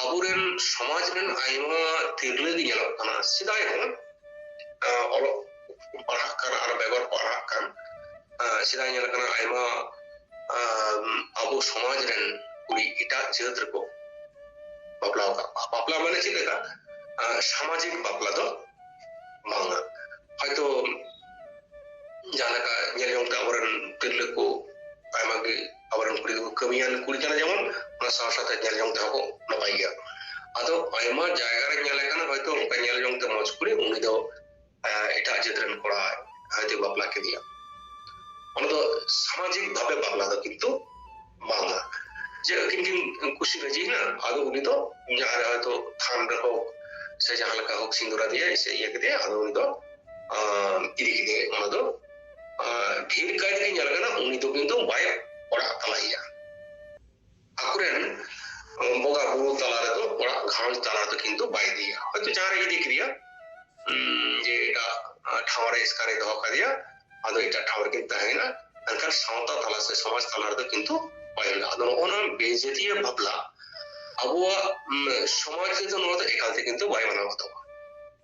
ᱟᱵᱚᱨᱮᱱ ᱥᱚᱢᱟᱡᱽ ᱨᱮᱱ ᱟᱭᱢᱟ ᱛᱤᱨᱞᱟᱹ ᱜᱮ ᱧᱮᱞᱚᱜ ᱠᱟᱱᱟ ᱥᱮᱫᱟᱭ ᱦᱚᱸ ᱚᱞᱚᱜ ᱯᱟᱲᱦᱟᱜ ᱠᱟᱱ ᱟᱨ ᱵᱮᱜᱚᱨ ᱯᱟᱲᱦᱟᱜ ᱠᱟᱱ ᱥᱮᱫᱟᱭ ᱧᱮᱞ ᱠᱟᱱᱟ ᱟᱭᱢᱟ ᱟᱵᱚ ᱥᱚᱢᱟᱡᱽ ᱨᱮᱱ ᱠᱩᱲᱤ ᱮᱴᱟᱜ ᱡᱟᱹᱛ ᱨᱮᱠᱚ ᱵᱟᱯᱞᱟ ᱟᱠᱟᱫ ᱠᱚᱣᱟ ᱵᱟᱯᱞᱟ ᱢᱟᱱᱮ ᱪᱮᱫ ᱞᱮᱠᱟ ᱥᱟᱢᱟᱡᱤᱠ ᱵᱟᱯᱞᱟ ᱫᱚ ᱵᱟᱝᱟ ᱦᱚᱭᱛᱳ ᱡᱟᱦᱟᱸ ᱞᱮᱠᱟ ᱧᱮᱞ ᱡᱚᱝ ᱛᱮ ᱟᱵᱚᱨᱮᱱ ᱛᱤᱨᱞᱟᱹ ᱠᱚ ᱟᱭᱢᱟ ᱜᱮ ᱟᱵᱚᱨᱮᱱ ᱠᱩᱲᱤ ᱠᱚ ᱠᱟᱹᱢᱤᱭᱟᱱ ᱠᱩᱲᱤ ᱠᱟᱱᱟ ᱡᱮᱢᱚᱱ ᱚᱱᱟ ᱥᱟᱶ ᱥᱟᱶᱛᱮ ᱧᱮᱞ ᱡᱚᱝ ᱛᱮᱦᱚᱸ ᱠᱚ ᱱᱟᱯᱟᱭ ᱜᱮᱭᱟ ᱟᱫᱚ ᱟᱭᱢᱟ ᱡᱟᱭᱜᱟ ᱨᱮ ᱧᱮᱞ ᱟᱠᱟᱱᱟ ᱦᱚᱭᱛᱳ ᱚᱱᱠᱟ ᱧᱮᱞ ᱡᱚᱝ ᱛᱮ ᱢᱚᱡᱽ ᱠᱩᱲᱤ ᱩᱱᱤ ᱫᱚ ᱮᱴᱟᱜ ᱡᱟᱹᱛ ᱨᱮᱱ ᱠᱚᱲᱟ ᱦᱚᱭᱛᱳ ᱵᱟᱯᱞᱟ ᱠᱮᱫᱮᱭᱟ ᱚᱱᱟ ᱫᱚ ᱥᱟᱢᱟᱡᱤᱠ ᱵᱷᱟᱵᱮ ᱵᱟᱯᱞᱟ ᱫᱚ ᱠᱤᱱᱛᱩ ᱵᱟᱝᱟ ᱡᱮ ᱟᱹᱠᱤᱱ ᱠᱤᱱ ᱠᱩᱥᱤ ᱨᱟᱹᱡᱤᱭᱮᱱᱟ ᱟᱫᱚ ᱩᱱᱤ ᱫᱚ ᱡᱟᱦᱟᱸ ᱨᱮ ᱦᱚᱭᱛᱳ ᱛᱷᱟᱱ ᱨᱮ ᱦᱳᱠ ᱥᱮ ᱡᱟᱦᱟᱸ ᱞᱮᱠᱟ ᱦᱳᱠ ᱥᱤᱸᱫᱩᱨᱟᱫᱮᱭᱟᱭ ᱥᱮ ᱤᱭᱟᱹ ᱠᱮᱫᱮᱭᱟ ᱟᱫᱚ ᱩᱱᱤ ᱫᱚ ᱤᱫᱤ ᱠᱮᱫᱮᱭᱟᱭ ᱚᱱᱟ ᱫᱚ ᱰᱷᱮᱨ ᱠᱟᱭᱛᱮ ᱧᱮᱞ ᱠᱟᱱᱟ ᱩᱱᱤ ᱫᱚ ᱠᱤᱱᱛᱩ ᱵᱟᱭ ᱚᱲᱟᱜ ᱛᱟᱞᱟᱭᱮᱭᱟ ᱟᱠᱚᱨᱮᱱ ᱵᱚᱸᱜᱟ ᱵᱩᱨᱩ ᱛᱟᱞᱟ ᱨᱮᱫᱚ ᱚᱲᱟᱜ ᱜᱷᱟᱨᱚᱸᱡᱽ ᱛᱟᱞᱟ ᱨᱮᱫᱚ ᱠᱤᱱᱛᱩ ᱵᱟᱭ ᱤᱫᱤᱭᱟ ᱦᱚᱭᱛᱳ ᱡᱟᱦᱟᱸ ᱨᱮ ᱤᱫᱤ ᱠᱮᱫᱮᱭᱟ ᱡᱮ ᱮᱴᱟᱜ ᱴᱷᱟᱶ ᱨᱮ ᱮᱥᱠᱟᱨᱮ ᱫᱚᱦᱚ ᱠᱟᱫᱮᱭᱟ ᱟᱫᱚ ᱮᱴᱟᱜ ᱴᱷᱟᱶ ᱨᱮᱠᱤᱱ ᱛᱟᱦᱮᱸᱭᱮᱱᱟ ᱢᱮᱱᱠᱷᱟᱱ ᱥᱟᱶᱛᱟ ᱛᱟᱞᱟ ᱥᱮ ᱥᱚᱢᱟᱡᱽ ᱛᱟᱞᱟ ᱨᱮᱫᱚ ᱠᱤᱱᱛᱩ ᱵᱟᱭ ᱦᱩᱭᱩᱜᱼᱟ ᱟᱫᱚ ᱱᱚᱜᱼᱚ ᱱᱚᱣᱟ ᱵᱮᱡᱟᱹᱛᱤᱭᱟᱹ ᱵᱟᱯᱞᱟ ᱟᱵᱚᱣᱟᱜ ᱥᱚᱢᱟᱡᱽ ᱨᱮᱫᱚ ᱱᱚᱣᱟ ᱫᱚ ᱮᱠᱟᱞ ᱛᱮ ᱠᱤᱱᱛᱩ ᱵᱟᱭ ᱢᱟᱱᱟᱣ ᱵᱟᱛᱟᱣᱟ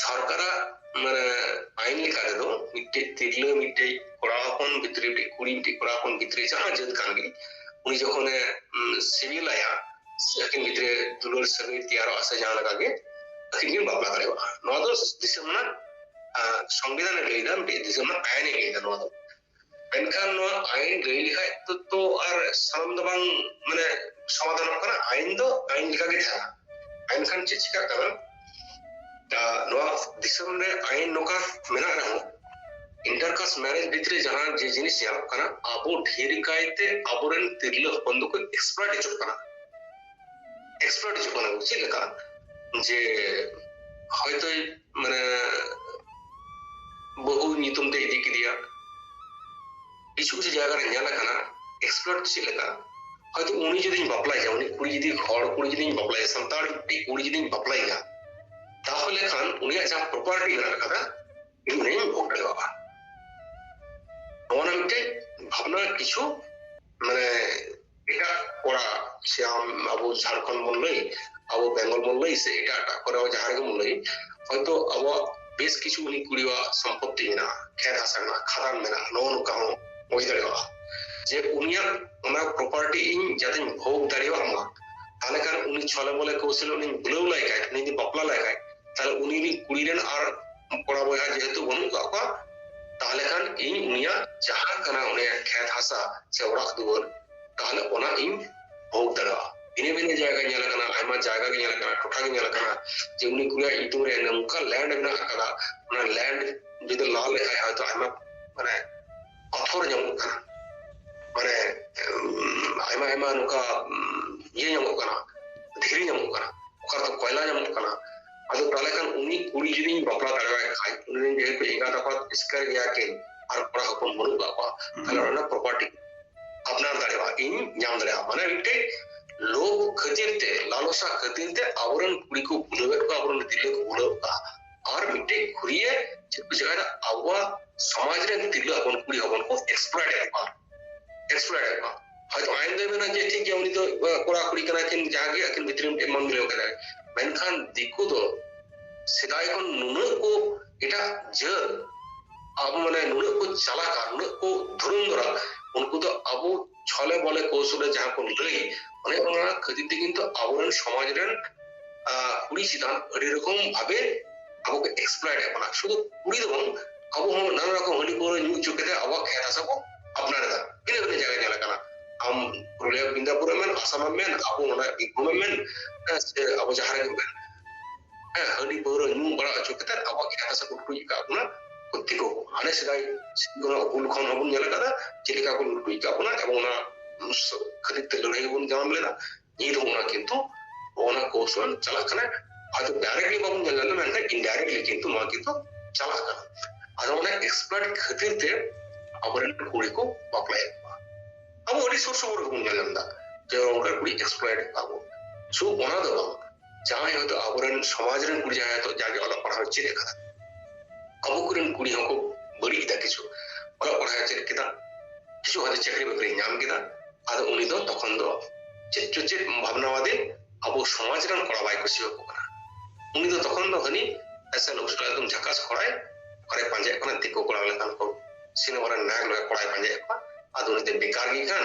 ᱥᱚᱨᱠᱟᱨᱟᱜ ᱢᱟᱱᱮ ᱟᱭᱤᱱ ᱞᱮᱠᱟ ᱛᱮᱫᱚ ᱢᱤᱫᱴᱮᱡ ᱛᱤᱨᱞᱟᱹ ᱢᱤᱫᱴᱮᱡ ᱠᱚᱲᱟ ᱦᱚᱯᱚᱱ ᱵᱷᱤᱛᱨᱤ ᱢᱤᱫᱴᱮᱡ ᱠᱩᱲᱤ ᱢᱤᱫᱴᱮᱡ ᱠᱚᱲᱟ ᱦᱚᱯᱚᱱ ᱵᱷᱤᱛᱨᱤ ᱡᱟᱦᱟᱸ ᱡᱟᱹᱛ ᱠᱟᱱ ᱜᱮ ᱩᱱᱤ ᱡᱚᱠᱷᱚᱱᱮ ᱥᱤᱵᱤᱞᱟᱭᱟ ᱟᱹᱠᱤᱱ ᱵᱷᱤᱛᱨᱤ ᱫᱩᱞᱟᱹᱲ ᱥᱟᱹᱜᱟᱹᱭ ᱛᱮᱭᱟᱨᱚᱜᱼᱟ ᱥᱮ ᱡᱟᱦᱟᱸ ᱞᱮᱠᱟ ᱜᱮ ᱟᱹᱠᱤᱱ ᱠᱤᱱ ᱵᱟᱯᱞᱟ ᱫᱟᱲᱮᱭᱟᱜᱼᱟ ᱱᱚᱣᱟ ᱫᱚ ᱫᱤᱥᱚᱢ ᱨᱮᱱᱟᱜ ᱥᱚᱝᱵᱤᱫᱷᱟᱱᱮ ᱞᱟᱹᱭᱫᱟ ᱢᱤᱫᱴᱮᱡ ᱫᱤᱥᱚᱢ ᱨᱮᱱᱟᱜ ᱟᱭᱤᱱᱮ ᱞᱟᱹᱭᱫᱟ ᱱᱚᱣᱟ ᱫᱚ ᱢᱮᱱᱠᱷᱟᱱ ᱱᱚᱣᱟ ᱟᱭᱤᱱ ᱞᱟᱹᱭ ᱞᱮᱠᱷᱟᱡ ᱛᱚ ᱛᱚ ᱟᱨ ᱥᱟᱱᱟᱢ ᱫᱚ ᱵᱟᱝ ᱢᱟᱱᱮ ᱥᱚᱢᱟᱫᱷᱟᱱᱚᱜ ᱠᱟᱱᱟ ᱟᱭᱤᱱ ᱫᱚ ᱟᱭᱤᱱ ᱞᱮᱠᱟ ᱜᱮ ᱛᱟᱦᱮᱱᱟ ᱮᱱᱠᱷᱟᱱ ᱪᱮᱫ ᱪᱤᱠᱟᱹᱜ ᱠᱟᱱᱟ ᱫᱟ ᱱᱚᱣᱟ ᱫᱤᱥᱚᱢ ᱨᱮ ᱟᱭᱤᱱ ᱱᱚᱝᱠᱟ ᱢᱮᱱᱟᱜ ᱨᱮᱦᱚᱸ ᱤᱱᱴᱟᱨᱠᱟᱥ ᱢᱮᱨᱮᱡᱽ ᱵᱷᱤᱛᱨᱤ ᱡᱟᱦᱟᱸ ᱡᱮ ᱡᱤᱱᱤᱥ ᱧᱮᱞᱚᱜ ᱠᱟᱱᱟ ᱟᱵᱚ ᱰᱷᱮᱨ ᱠᱟᱭᱛᱮ ᱟᱵᱚᱨᱮᱱ ᱛᱤᱨᱞᱟᱹ ᱦᱚᱯᱚᱱ ᱫᱚᱠᱚ ᱮᱠᱥᱯᱟᱨᱴ ᱦᱤᱡᱩᱜ ᱠᱟᱱᱟ ᱮᱠᱥᱯᱟᱨᱴ ᱦᱤᱡᱩᱜ ᱠᱟᱱᱟ ᱪᱮᱫ ᱞᱮᱠᱟ ᱡᱮ ᱦᱚᱭᱛᱳ ᱢᱟᱱᱮ ᱵᱟᱹᱦᱩ ᱧᱩᱛᱩᱢ ᱛᱮ ᱤᱫᱤ ᱠᱮᱫᱮᱭᱟ ᱠᱤᱪᱷᱩ ᱠᱤᱪᱷᱩ ᱡᱟᱭᱜᱟ ᱨᱮ ᱧᱮᱞ ᱟᱠᱟᱱᱟ ᱮᱠᱥᱯᱞᱳᱨ ᱪᱮᱫ ᱞᱮᱠᱟ ᱦᱚᱭᱛᱳ ᱩᱱᱤ ᱡᱩᱫᱤᱧ ᱵᱟᱯᱞᱟᱭᱟ ᱩᱱᱤ ᱠᱩᱲᱤ ᱡᱩᱫᱤ ᱦᱚᱲ ᱠᱩᱲᱤ ᱡᱩᱫᱤᱧ ᱵᱟᱯᱞᱟᱭᱟ ᱥᱟᱱᱛᱟᱲ ᱢᱤᱫᱴᱤᱡ ᱠᱩᱲᱤ ᱡᱩᱫᱤᱧ ᱵᱟᱯᱞᱟᱭᱟ ᱛᱟᱦᱚᱞᱮ ᱠᱷᱟᱱ ᱩᱱᱤᱭᱟᱜ ᱡᱟᱦᱟᱸ ᱯᱨᱚᱯᱟᱨᱴᱤ ᱢᱮᱱᱟᱜ ᱟᱠᱟᱫᱟ ᱤᱧ ᱩᱱᱤᱧ ᱵᱷᱳᱜᱽ ᱫᱟᱲᱮᱭᱟᱜᱼᱟ ᱱᱚᱣᱟ ᱢᱤᱫᱴᱮᱡ ᱵᱷᱟᱵᱽᱱᱟ ᱠᱤᱪᱷᱩ ᱢᱟᱱᱮ ᱮᱴᱟᱜ ᱠᱚᱲᱟ ᱥᱮ ᱟᱢ ᱟᱵᱚ ᱡᱷᱟᱲᱠᱷᱚᱸᱰ ᱵᱚᱱ ᱞᱟᱹᱭ ᱟᱵᱚ ᱵᱮᱝᱜᱚᱞ ᱵᱚᱱ ᱞᱟᱹᱭ ᱥᱮ ᱮᱴᱟᱜ ᱮᱴᱟᱜ ᱠᱚᱨᱮ ᱦᱚᱸ ᱡᱟᱦᱟᱸ ᱨᱮᱜᱮ ᱵᱚᱱ ᱞᱟᱹᱭ ᱦᱚᱭᱛᱳ ᱟᱵᱚᱣᱟᱜ ᱵᱮᱥ ᱠᱤᱪᱷᱩ ᱩᱱᱤ ᱠᱩᱲᱤᱣᱟᱜ ᱥᱚᱢᱯᱚᱛᱛᱤ ᱢᱮᱱᱟᱜᱼᱟ ᱠᱷᱮᱛ ᱦᱟᱥᱟ ᱢᱮᱱᱟᱜᱼᱟ ᱠᱷᱟᱫᱟᱱ ᱢᱮᱱᱟᱜᱼᱟ ᱱᱚᱜᱼᱚ ᱱᱚᱝᱠᱟ ᱦᱚᱸ ᱦᱩᱭ ᱫᱟᱲᱮᱭᱟᱜᱼᱟ ᱡᱮ ᱩᱱᱤᱭᱟᱜ ᱚᱱᱟ ᱯᱨᱚᱯᱟᱨᱴᱤ ᱤᱧ ᱡᱟᱛᱮᱧ ᱵᱷᱳᱜᱽ ᱫᱟᱲᱮᱭᱟᱜ ᱢᱟ ᱛᱟᱦᱚᱞᱮ ᱠᱷᱟᱱ ᱩᱱᱤ ᱪᱷᱚᱞᱮ ᱵᱚᱞᱮ ᱠᱚᱣᱥᱚᱞᱮ ᱩᱱᱤᱧ ᱵᱩᱞᱟᱹᱣ ᱞᱟᱭ ᱠᱷᱟᱡ ᱩᱱᱤ ᱡᱩᱫᱤ ᱵᱟᱯᱞᱟ ᱞᱟᱭ ᱠᱷᱟᱡ ᱛᱟᱦᱚᱞᱮ ᱩᱱᱤ ᱨᱤᱱ ᱠᱩᱲᱤ ᱨᱮᱱ ᱟᱨ ᱠᱚᱲᱟ ᱵᱚᱭᱦᱟ ᱡᱮᱦᱮᱛᱩ ᱵᱟᱹᱱᱩᱜ ᱠᱟᱜ ᱠᱚᱣᱟ ᱛᱟᱦᱞᱮ ᱠᱷᱟᱱ ᱤᱧ ᱩᱱᱤᱭᱟᱜ ᱡᱟᱦᱟᱸ ᱠᱟᱱᱟ ᱩᱱᱤᱭᱟᱜ ᱠᱷᱮᱛ ᱦᱟᱥᱟ ᱥᱮ ᱚᱲᱟᱜ ᱫᱩᱣᱟᱹᱨ ᱛᱟᱦᱞᱮ ᱚᱱᱟ ᱤᱧ ᱵᱷᱳᱜᱽ ᱫᱟᱲᱮᱭᱟᱜᱼᱟ ᱵᱷᱤᱱᱟᱹ ᱵᱷᱤᱱᱟᱹ ᱡᱟᱭᱜᱟ ᱧᱮᱞ ᱟᱠᱟᱱᱟ ᱟᱭᱢᱟ ᱡᱟᱭᱜᱟ ᱜᱮ ᱧᱮᱞ ᱟᱠᱟᱱᱟ ᱴᱚᱴᱷᱟ ᱜᱮ ᱧᱮᱞ ᱟᱠᱟᱱᱟ ᱡᱮ ᱩᱱᱤ ᱠᱩᱲᱤᱭᱟᱜ ᱧᱩᱛᱩᱢ ᱨᱮ ᱱᱚᱝᱠᱟ ᱞᱮᱱᱰ ᱢᱮᱱᱟᱜ ᱟᱠᱟᱫᱟ ᱚᱱᱟ ᱞᱮᱱᱰ ᱡᱩᱫᱤ ᱞᱟ ᱞᱮᱠᱷᱟᱡ ᱦᱚᱭᱛᱚ ᱟᱭᱢᱟ ᱢᱟᱱᱮ ᱟᱯᱷᱚᱨ ᱧᱟᱢᱚᱜ ᱠᱟᱱᱟ ᱢᱟᱱᱮ ᱟᱭᱢᱟ ᱟᱭᱢᱟ ᱱᱚᱝᱠᱟ ᱤᱭᱟᱹ ᱧᱟᱢᱚᱜ ᱠᱟᱱᱟ ᱫᱷᱤᱨᱤ ᱧᱟᱢᱚᱜ ᱠᱟᱱᱟ ᱚᱠᱟ ᱨᱮᱫᱚ ᱠᱚᱭᱞᱟ ᱧᱟᱢᱚᱜ ᱠᱟᱱᱟ ᱟᱫᱚ ᱛᱟᱦᱚᱞᱮ ᱠᱷᱟᱱ ᱩᱱᱤ ᱠᱩᱲᱤ ᱡᱩᱫᱤᱧ ᱵᱟᱯᱞᱟ ᱫᱟᱲᱮᱣᱟᱭ ᱠᱷᱟᱡ ᱩᱱᱤ ᱨᱮᱱ ᱡᱮᱦᱮᱛᱩ ᱮᱸᱜᱟᱛ ᱟᱯᱟᱛ ᱮᱥᱠᱟᱨ ᱜᱮᱭᱟ ᱠᱤᱱ ᱟᱨ ᱠᱚᱲᱟ ᱦᱚᱯᱚᱱ ᱵᱟᱹᱱᱩᱜ ᱠᱟᱜ ᱠᱚᱣᱟ ᱛᱟᱦᱚᱞᱮ ᱚᱱᱟ ᱯᱨᱚᱯᱟᱨᱴᱤ ᱟᱯᱱᱟᱨ ᱫᱟᱲᱮᱣᱟᱜᱼᱟ ᱤᱧ ᱧᱟᱢ ᱫᱟᱲᱮᱭᱟᱜᱼᱟ ᱢᱟᱱᱮ ᱢᱤᱫᱴᱮᱡ ᱞᱳᱵᱷ ᱠᱷᱟᱹᱛᱤᱨ ᱛᱮ ᱞᱟᱞᱚᱥᱟ ᱠᱷᱟᱹᱛᱤᱨ ᱛᱮ ᱟᱵᱚᱨᱮᱱ ᱠᱩᱲᱤ ᱠᱚ ᱵᱩᱞᱟᱹᱣᱮᱫ ᱠᱚᱣᱟ ᱟᱵᱚᱨᱮᱱ ᱛᱤᱨᱞᱟᱹ ᱠᱚ ᱵᱩᱞᱟᱹᱣᱮᱫ ᱠᱚᱣᱟ ᱟᱨ ᱢᱤᱫᱴᱮᱱ ᱠᱷᱩᱨᱤᱭᱟᱹ ᱪᱮᱫ ᱠᱚ ᱪᱮᱠᱟᱭᱫᱟ ᱟᱵᱚᱣᱟᱜ ᱥᱚᱢᱟᱡᱽ ᱨᱮᱱ ᱛᱤᱨᱞᱟᱹ ᱦᱚᱯᱚᱱ ᱠᱩᱲᱤ ᱦᱚᱯᱚᱱ ᱠᱚ ᱮᱠᱥᱯᱞᱚᱭᱤᱴ ᱮᱫ ᱠᱚᱣᱟ ᱮᱠᱥᱯᱞᱚᱭᱤᱴ ᱮᱫ ᱠᱚᱣᱟ ᱦᱚᱭᱛᱚ ᱟᱭᱤᱱ ᱫᱚᱭ ᱢᱮᱱᱟ ᱡᱮ ᱴᱷᱤᱠ ᱜᱮᱭᱟ ᱩᱱᱤ ᱫᱚ ᱠᱚᱲᱟ ᱠᱩᱲᱤ ᱠᱟᱱᱟ ᱠᱤᱱ ᱡᱟᱦᱟᱸ ᱜᱮ ᱟᱹᱠᱤᱱ ᱵᱷᱤᱛᱨᱤ ᱢᱤᱫᱴᱮᱱ ᱢᱚᱱ ᱢᱤᱞᱟᱹᱣ ᱠᱮᱫᱟᱭ ᱢᱮᱱᱠᱷᱟᱱ ᱫᱤᱠᱩ ᱫᱚ ᱥᱮᱫᱟᱭ ᱠᱷᱚᱱ ᱱᱩᱱᱟᱹᱜ ᱠᱚ ᱮᱴᱟᱜ ᱡᱟᱹᱛ ᱟᱵᱚ ᱢᱟᱱᱮ ᱱᱩᱱᱟᱹᱜ ᱠᱚ ᱪᱟᱞᱟᱜᱼᱟ ᱱᱩᱱᱟᱹᱜ ᱠᱚ ᱫᱷᱩᱨᱩᱢ ᱫᱚᱨᱟ ᱩᱱᱠᱩ ᱫᱚ ᱟᱵᱚ ᱪᱷᱚᱞᱮ ᱵᱚᱞᱮ ᱠᱚᱥᱩᱨᱮ ᱡᱟᱦᱟᱸ ᱠᱚ ᱞᱟᱹᱭ ᱚᱱᱮ ᱚᱱᱟ ᱠᱷᱟᱹᱛᱤᱨ ᱛᱮ ᱠᱤᱱᱛᱩ ᱟᱵᱚᱨᱮᱱ ᱥᱚᱢᱟᱡᱽ ᱨᱮᱱ ᱠᱩᱲᱤ ᱪᱮᱛᱟᱱ ᱟᱹᱰᱤ ᱨᱚᱠᱚᱢ ᱵᱷᱟᱵᱮ ᱟᱵᱚ ᱠᱚ ᱮᱠᱥᱯᱞᱚᱭᱮᱴ ᱮᱫ ᱵᱚᱱᱟ ᱥᱩᱫᱷᱩ ᱠᱩᱲᱤ ᱫᱚ ᱵᱟᱝ ᱟᱵᱚ ᱦᱚᱸ ᱱᱟᱱᱟ ᱨᱚᱠᱚᱢ ᱦᱟᱺᱰᱤ ᱯᱟᱹᱣᱨᱟᱹ ᱧᱩ ᱦᱚᱪᱚ ᱠᱟᱛᱮ ᱟᱵᱚᱣᱟᱜ ᱠᱷᱮᱛ ᱦᱟᱥᱟ ᱵᱚ ᱟᱯᱱᱟᱨ ᱮᱫᱟ ᱵᱷᱤᱱᱟᱹ ᱵᱷᱤᱱᱟᱹ ᱡᱟᱭᱜᱟ ᱧᱮᱞ ᱟᱠᱟᱱᱟ ᱟᱢ ᱯᱩᱨᱩᱞᱤᱭᱟ ᱵᱤᱱᱫᱟᱯᱩᱨ ᱮᱢ ᱢᱮᱱ ᱟᱥᱟᱢ ᱮᱢ ᱢᱮᱱ ᱟᱵᱚ ᱱᱚᱰᱮ ᱵᱤᱨᱵᱷᱩᱢ ᱮᱢ ᱢᱮᱱ ᱥᱮ ᱟᱵᱚ ᱡᱟᱦᱟᱸ ᱨᱮᱜᱮ ᱢᱮᱱ ᱦᱟᱺᱰᱤ ᱯᱟᱹᱣᱨᱟᱹ ᱧᱩ ᱵᱟᱲᱟ ᱦᱚᱪᱚ ᱠᱟᱛᱮ ᱟᱵᱚᱣᱟᱜ ᱠᱷᱮᱛ ᱦᱟᱥᱟ ᱠᱚ ᱞᱩᱴᱩᱡ ᱟᱠᱟᱫ ᱵᱚᱱᱟ ᱠᱷᱚᱛᱤ ᱠᱚ ᱦᱟᱱᱮ ᱥᱮᱫᱟᱭ ᱦᱩᱞ ᱠᱷᱚᱱ ᱦᱚᱸᱵᱚᱱ ᱧᱮᱞ ᱟᱠᱟᱫᱟ ᱪᱮᱫ ᱞᱮᱠᱟ ᱠᱚ ᱞᱩᱴᱩᱡ ᱟᱠᱟᱫ ᱵᱚᱱᱟ ᱮᱵᱚᱝ ᱚᱱᱟ ᱠᱷᱟᱹᱛᱤᱨ ᱛᱮ ᱞᱟᱹᱲᱦᱟᱹᱭ ᱵᱚᱱ ᱧᱟᱢ ᱞᱮᱫᱟ ᱱᱤᱛ ᱦᱚᱸ ᱚᱱᱟ ᱠᱤᱱᱛᱩ ᱚᱱᱟ ᱠᱚᱣᱥᱚᱞ ᱪᱟᱞᱟᱜ ᱠᱟᱱᱟ ᱟᱫᱚ ᱰᱟᱭᱨᱮᱠᱴᱞᱤ ᱵᱟᱵᱚᱱ ᱧᱮᱞ ᱞᱮᱱᱟ ᱢᱮᱱᱠᱷᱟᱱ ᱤᱱᱰᱟᱭᱨᱮᱠᱴᱞᱤ ᱠᱤᱱᱛᱩ ᱱᱚᱣᱟ ᱠᱤᱱᱛᱩ ᱪᱟᱞᱟᱜ ᱠᱟᱱᱟ ᱟᱫᱚ ᱚᱱᱟ ᱮᱠᱥᱯᱟᱨᱴ ᱠᱷᱟᱹᱛᱤᱨ ᱛᱮ ᱟᱵᱚᱨᱮᱱ ᱠᱩᱲᱤ ᱠᱚ ᱵᱟᱯᱞᱟᱭᱮᱫ ᱠᱚᱣᱟ ᱟᱵᱚ ᱟᱹᱰᱤ ᱥᱩᱨ ᱥᱩᱯᱩᱨ ᱜᱮᱵᱚᱱ ᱧᱮᱞ ᱧᱟᱢ ᱮᱫᱟ ᱡᱮ ᱚᱱᱠᱟ ᱠᱩᱲᱤ ᱮᱠᱥᱯᱟᱨᱴ ᱟᱵᱚ ᱥᱩ ᱚᱱᱟ ᱫᱚ ᱵᱟᱝ ᱡᱟᱦᱟᱸᱭ ᱦᱚᱭᱛᱳ ᱟᱵᱚᱨᱮᱱ ᱥᱚᱢᱟᱡᱽ ᱨᱮᱱ ᱠᱩᱲᱤ ᱡᱟᱦᱟᱸᱭ ᱦᱚᱭᱛᱳ ᱡᱟᱜᱮ ᱚᱞᱚᱜ ᱯᱟᱲᱦᱟᱣ ᱪᱮᱫ ᱟᱠᱟᱫᱟ ᱟᱵᱚ ᱠᱚᱨᱮᱱ ᱠᱩᱲᱤ ᱦᱚᱸᱠᱚ ᱵᱟᱹᱲᱤᱡ ᱮᱫᱟ ᱠᱤᱪᱷᱩ ᱚᱞᱚᱜ ᱯᱟᱲᱦᱟᱣ ᱪᱮᱫ ᱠᱮᱫᱟ ᱠᱤᱪᱷᱩ ᱦᱚᱭᱛᱳ ᱪᱟᱹᱠᱨᱤ ᱵᱟᱹᱠᱨᱤ ᱧᱟᱢ ᱠᱮᱫᱟ ᱟᱫᱚ ᱩᱱᱤ ᱫᱚ ᱛᱚᱠᱷᱚᱱ ᱫᱚ ᱪᱮᱫ ᱪᱚ ᱪᱮᱫ ᱵᱷᱟᱵᱽᱱᱟᱣᱟᱫᱮ ᱟᱵᱚ ᱥᱚᱢᱟᱡᱽ ᱨᱮᱱ ᱠᱚᱲᱟ ᱵᱟᱭ ᱠᱩᱥᱤᱭᱟᱠᱚ ᱠᱟᱱᱟ ᱩᱱᱤ ᱫᱚ ᱛᱚᱠᱷᱚᱱ ᱫᱚ ᱦᱟᱹᱱᱤ ᱮᱥᱮ ᱞᱚᱵᱥᱴᱟ ᱮᱠᱫᱚᱢ ᱡᱷᱟᱠᱟᱥ ᱠᱚᱲᱟᱭ ᱚᱠᱟᱨᱮ ᱯᱟᱸᱡᱟᱭᱮᱫ ᱠᱟᱱᱟ ᱫᱤᱠᱩ ᱠᱚᱲᱟ ᱞᱮᱠᱟᱱ ᱠᱚ ᱥᱤᱱᱮᱢᱟ ᱨᱮᱱ ᱱᱟᱭᱚᱠ ᱞᱮᱠᱟ ᱠᱚᱲᱟᱭ ᱯᱟᱸᱡᱟᱭᱮᱫ ᱠᱚᱣᱟ ᱟᱫᱚ ᱩᱱᱤ ᱫᱚ ᱵᱮᱠᱟᱨ ᱜᱮ ᱠᱟᱱ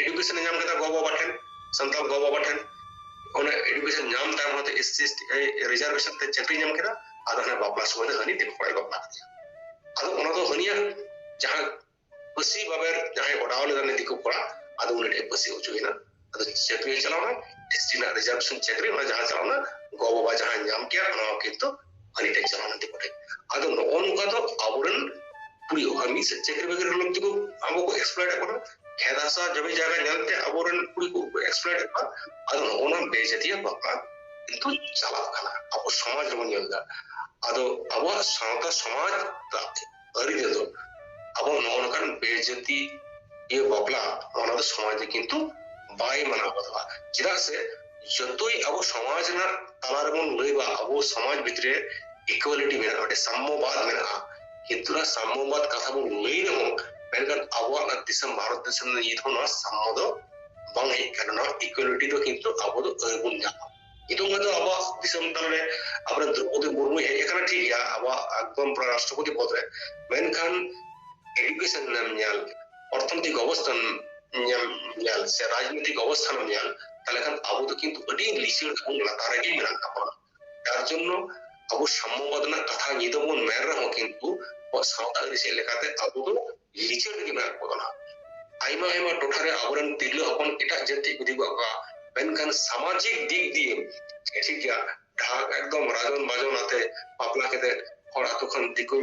ᱮᱰᱩᱠᱮᱥᱚᱱ ᱧᱟᱢ ᱠᱮᱫᱟ ᱜᱚ ᱵᱟᱵᱟ ᱴᱷᱮᱱ ᱥᱟᱱᱛᱟᱲ ᱜᱚ ᱵᱟᱵᱟ ᱴᱷᱮᱱ ᱚᱱᱟ ᱮᱰᱩᱠᱮᱥᱚᱱ ᱧᱟᱢ ᱛᱟᱭᱚᱢ ᱦᱚᱸᱛᱚ ᱮᱥ ᱥᱤ ᱨᱤᱡᱟᱨᱵᱷᱮᱥᱚᱱ ᱛᱮ ᱪᱟᱹᱠᱨᱤ ᱧᱟᱢ ᱠᱮᱫᱟ ᱟᱫᱚ ᱦᱟᱱᱮ ᱵᱟᱯᱞᱟ ᱥᱚᱢᱚᱭ ᱫᱚ ᱦᱟᱹᱱᱤ ᱫᱤᱠᱩ ᱠᱚᱲᱟᱭ ᱵᱟᱯᱞᱟ ᱠᱮᱫᱮᱭᱟ ᱟᱫᱚ ᱚᱱᱟ ᱫᱚ ᱦᱟᱹᱱᱤᱭᱟᱜ ᱡᱟᱦᱟᱸ ᱯᱟᱹᱥᱤ ᱵᱟᱵᱮᱨ ᱡᱟᱦᱟᱸᱭ ᱚᱰᱟᱣ ᱞᱮᱫᱟ ᱩᱱᱤ ᱫᱤᱠᱩ ᱠᱚᱲᱟ ᱟᱫᱚ ᱩᱱᱤ ᱴᱷᱮᱱ ᱯᱟᱹᱥᱤ ᱦᱚᱪᱚᱭᱮᱱᱟ ᱟᱫᱚ ᱪᱟᱹᱠᱨᱤ ᱪᱟᱞᱟᱣᱱᱟ ᱮᱥ ᱴᱤ ᱨᱮᱱᱟᱜ ᱨᱤᱡᱟᱨᱵᱷᱮᱥᱚᱱ ᱪᱟᱹᱠᱨᱤ ᱚᱱᱟ ᱡᱟᱦᱟᱸ ᱪᱟᱞᱟᱣᱱᱟ ᱜᱚ ᱵᱟᱵᱟ ᱡᱟᱦᱟᱸ ᱧᱟᱢ ᱠᱮᱭᱟ ᱚᱱᱟ ᱦᱚᱸ ᱠᱤᱱᱛᱩ ᱦᱟᱹᱱᱤ ᱴᱷᱮᱱ ᱪᱟᱞᱟᱣ ᱞᱮᱱ ᱫᱤᱠᱩ ᱴᱷᱮᱱ ᱟᱫᱚ ᱱᱚᱜᱼᱚ ᱱᱚᱝᱠᱟ ᱫᱚ ᱟᱵᱚᱨᱮᱱ ᱠᱩᱲᱤ ᱟᱨ ᱢᱤᱫ ᱥᱮᱫ ᱪᱟᱹᱠᱨᱤ ᱵᱟᱹᱠᱨᱤ ᱞᱟᱹᱜᱤᱫ ᱛᱮᱠᱚ ᱟᱵᱚ ᱠᱚ ᱮᱠᱥᱯᱞᱚᱭᱮᱴ ᱮᱫ ᱵᱚᱱᱟ ᱠᱷᱮᱛ ᱦᱟᱥᱟ ᱡᱚᱢᱤ ᱡᱟᱭᱜᱟ ᱧᱮᱞᱛᱮ ᱟᱵᱚᱨᱮᱱ ᱠᱩᱲᱤ ᱠᱚ ᱮᱠᱥᱯᱞᱚᱭᱮᱴ ᱮᱫ ᱠᱚᱣᱟ ᱟᱫᱚ ᱱᱚᱜᱼᱚ ᱱᱚᱣᱟ ᱵᱮᱡᱟᱹᱛᱤᱭᱟᱹ ᱵᱟᱯᱞᱟ ᱠᱤᱱᱛᱩ ᱪᱟᱞᱟᱜ ᱠᱟᱱᱟ ᱟᱵᱚ ᱥᱚᱢᱟᱡᱽ ᱨᱮᱵᱚᱱ ᱧᱮᱞ ᱮᱫᱟ ᱟᱫᱚ ᱟᱵᱚᱣᱟᱜ ᱥᱟᱶᱛᱟ ᱥᱚᱢᱟᱡᱽ ᱟᱹᱨᱤ ᱨᱮᱫᱚ ᱟᱵᱚ ᱱᱚᱜᱼᱚ ᱱᱚᱝᱠᱟᱱ ᱵᱮᱡᱟᱹᱛᱤ ᱤᱭᱟᱹ ᱵᱟᱯᱞᱟ ᱚᱱᱟ ᱫᱚ ᱥᱚᱢᱟᱡᱽ ᱫᱚ ᱠᱤᱱᱛᱩ ᱵᱟᱭ ᱢᱟᱱᱟᱣ ᱵᱟᱛᱟᱣᱟ ᱪᱮᱫᱟᱜ ᱥᱮ ᱡᱚᱛᱚᱭ ᱟᱵᱚ ᱥᱚᱢᱟᱡᱽ ᱨᱮᱱᱟᱜ ᱛᱟᱞᱟ ᱨᱮᱵᱚᱱ ᱞᱟᱹᱭ ᱵᱟ ᱟᱵᱚ ᱥᱚᱢᱟᱡᱽ ᱵᱷᱤᱛᱨᱤ ᱨᱮ ᱤᱠᱩᱣᱟᱞᱤᱴᱤ ᱢᱮᱱᱟᱜᱼᱟ ᱢᱤᱫᱴᱮᱱ ᱥᱟᱢᱢᱚᱵᱟᱫ ᱢᱮᱱᱟᱜᱼᱟ ᱠᱤᱱᱛᱩ ᱱᱚᱣᱟ ᱥᱟᱢᱢᱚᱵᱟᱫ ᱠᱟᱛᱷᱟ ᱵᱚᱱ ᱞᱟᱹᱭ ᱨᱮᱦᱚᱸ ᱢᱮᱱᱠᱷᱟᱱ ᱟᱵᱚᱣᱟᱜ ᱱᱚᱣᱟ ᱫᱤᱥᱚᱢ ᱵᱷᱟᱨᱚᱛ ᱫᱤᱥᱚᱢ ᱱᱤᱛ ᱦᱚᱸ ᱱᱚᱣᱟ ᱥᱟᱢᱢᱚ ᱫᱚ ᱵᱟᱝ ᱦᱮᱡ ᱠᱟᱱᱟ ᱱᱚᱣᱟ ᱤᱠᱩᱣᱟᱞᱤᱴᱤ ᱫᱚ ᱠᱤᱱᱛᱩ ᱟᱵᱚ ᱫᱚ ᱟᱹᱣᱨᱤ ᱵᱚᱱ ᱧᱟᱢᱟ ᱱᱤᱛᱚᱝ ᱫᱚ ᱟᱵᱚᱣᱟᱜ ᱫᱤᱥᱚᱢ ᱛᱟᱞᱟ ᱨᱮ ᱟᱵᱚᱨᱮᱱ ᱫᱨᱚᱯᱚᱫᱤ ᱢᱩᱨᱢᱩᱭ ᱦᱮᱡ ᱟᱠᱟᱱᱟ ᱴᱷᱤᱠ ᱜᱮᱭᱟ ᱟᱵᱚᱣᱟᱜ ᱮᱠᱫᱚᱢ ᱯᱨᱟᱭ ᱨᱟᱥᱴᱨᱚᱯᱚᱛᱤ ᱯᱚᱫ ᱨᱮ ᱢᱮᱱᱠᱷᱟᱱ ᱮᱰᱩᱠᱮᱥᱚᱱ ᱨᱮᱱᱟᱜ ᱧᱮᱞ ᱚᱨᱛᱷᱚᱱৈতিক ᱚᱵᱚᱥᱛᱷᱟ ᱧᱮᱞ ᱧᱮᱞ ᱥᱮ ᱨᱟᱡᱽᱱᱤᱛᱤᱠ ᱚᱵᱚᱥᱛᱷᱟ ᱧᱮᱞ ᱛᱟᱦᱞᱮ ᱠᱷᱟᱱ ᱟᱵᱚ ᱫᱚ ᱠᱤᱱᱛᱩ ᱟᱹᱰᱤ ᱞᱤᱪᱟᱹᱲ ᱠᱷᱚᱱ ᱞᱟᱛᱟᱨ ᱨᱮᱜᱮ ᱢᱮᱱᱟᱜ ᱛᱟᱵᱚᱱᱟ ᱛᱟᱨ ᱡᱚᱱᱱᱚ ᱟᱵᱚ ᱥᱟᱢᱢᱚᱵᱟᱫ ᱨᱮᱱᱟᱜ ᱠᱟᱛᱷᱟ ᱧᱤᱫᱟᱹ ᱵᱚᱱ ᱢᱮᱱ ᱨᱮᱦᱚᱸ ᱠᱤᱱᱛᱩ ᱟᱵᱚᱣᱟᱜ ᱥᱟᱶᱛᱟ ᱟᱹᱨᱤᱪᱟᱹᱞᱤ ᱞᱮᱠᱟᱛᱮ ᱟᱵᱚ ᱫᱚ ᱞᱤᱪᱟᱹᱲ ᱜᱮ ᱢᱮᱱᱟᱜ ᱠᱚ ᱠᱟᱱᱟ ᱟᱭᱢᱟ ᱟᱭᱢᱟ ᱴᱚᱴᱷᱟ ᱨᱮ ᱟᱵᱚᱨᱮᱱ ᱛᱤᱨᱞᱟᱹ ᱦᱚᱯᱚᱱ ᱮᱴᱟᱜ ᱡᱟᱹᱛᱤ ᱠᱚ ᱤᱫᱤ ᱠᱚᱣᱟ ᱠᱚ ᱢᱮᱱᱠᱷᱟᱱ ᱥᱟᱢᱟᱡᱤᱠ ᱫᱤᱠ ᱫᱤᱭᱮ ᱴᱷᱤᱠ ᱜᱮᱭᱟ ᱰᱷᱟᱠ ᱮᱠᱫᱚᱢ ᱨᱟᱡᱚᱱ ᱵᱟᱡᱚᱱ ᱟᱛᱮ ᱵᱟᱯᱞᱟ ᱠᱟᱛᱮ ᱦᱚᱲ ᱟᱛᱳ ᱠᱷᱚᱱ ᱫᱤᱠᱩ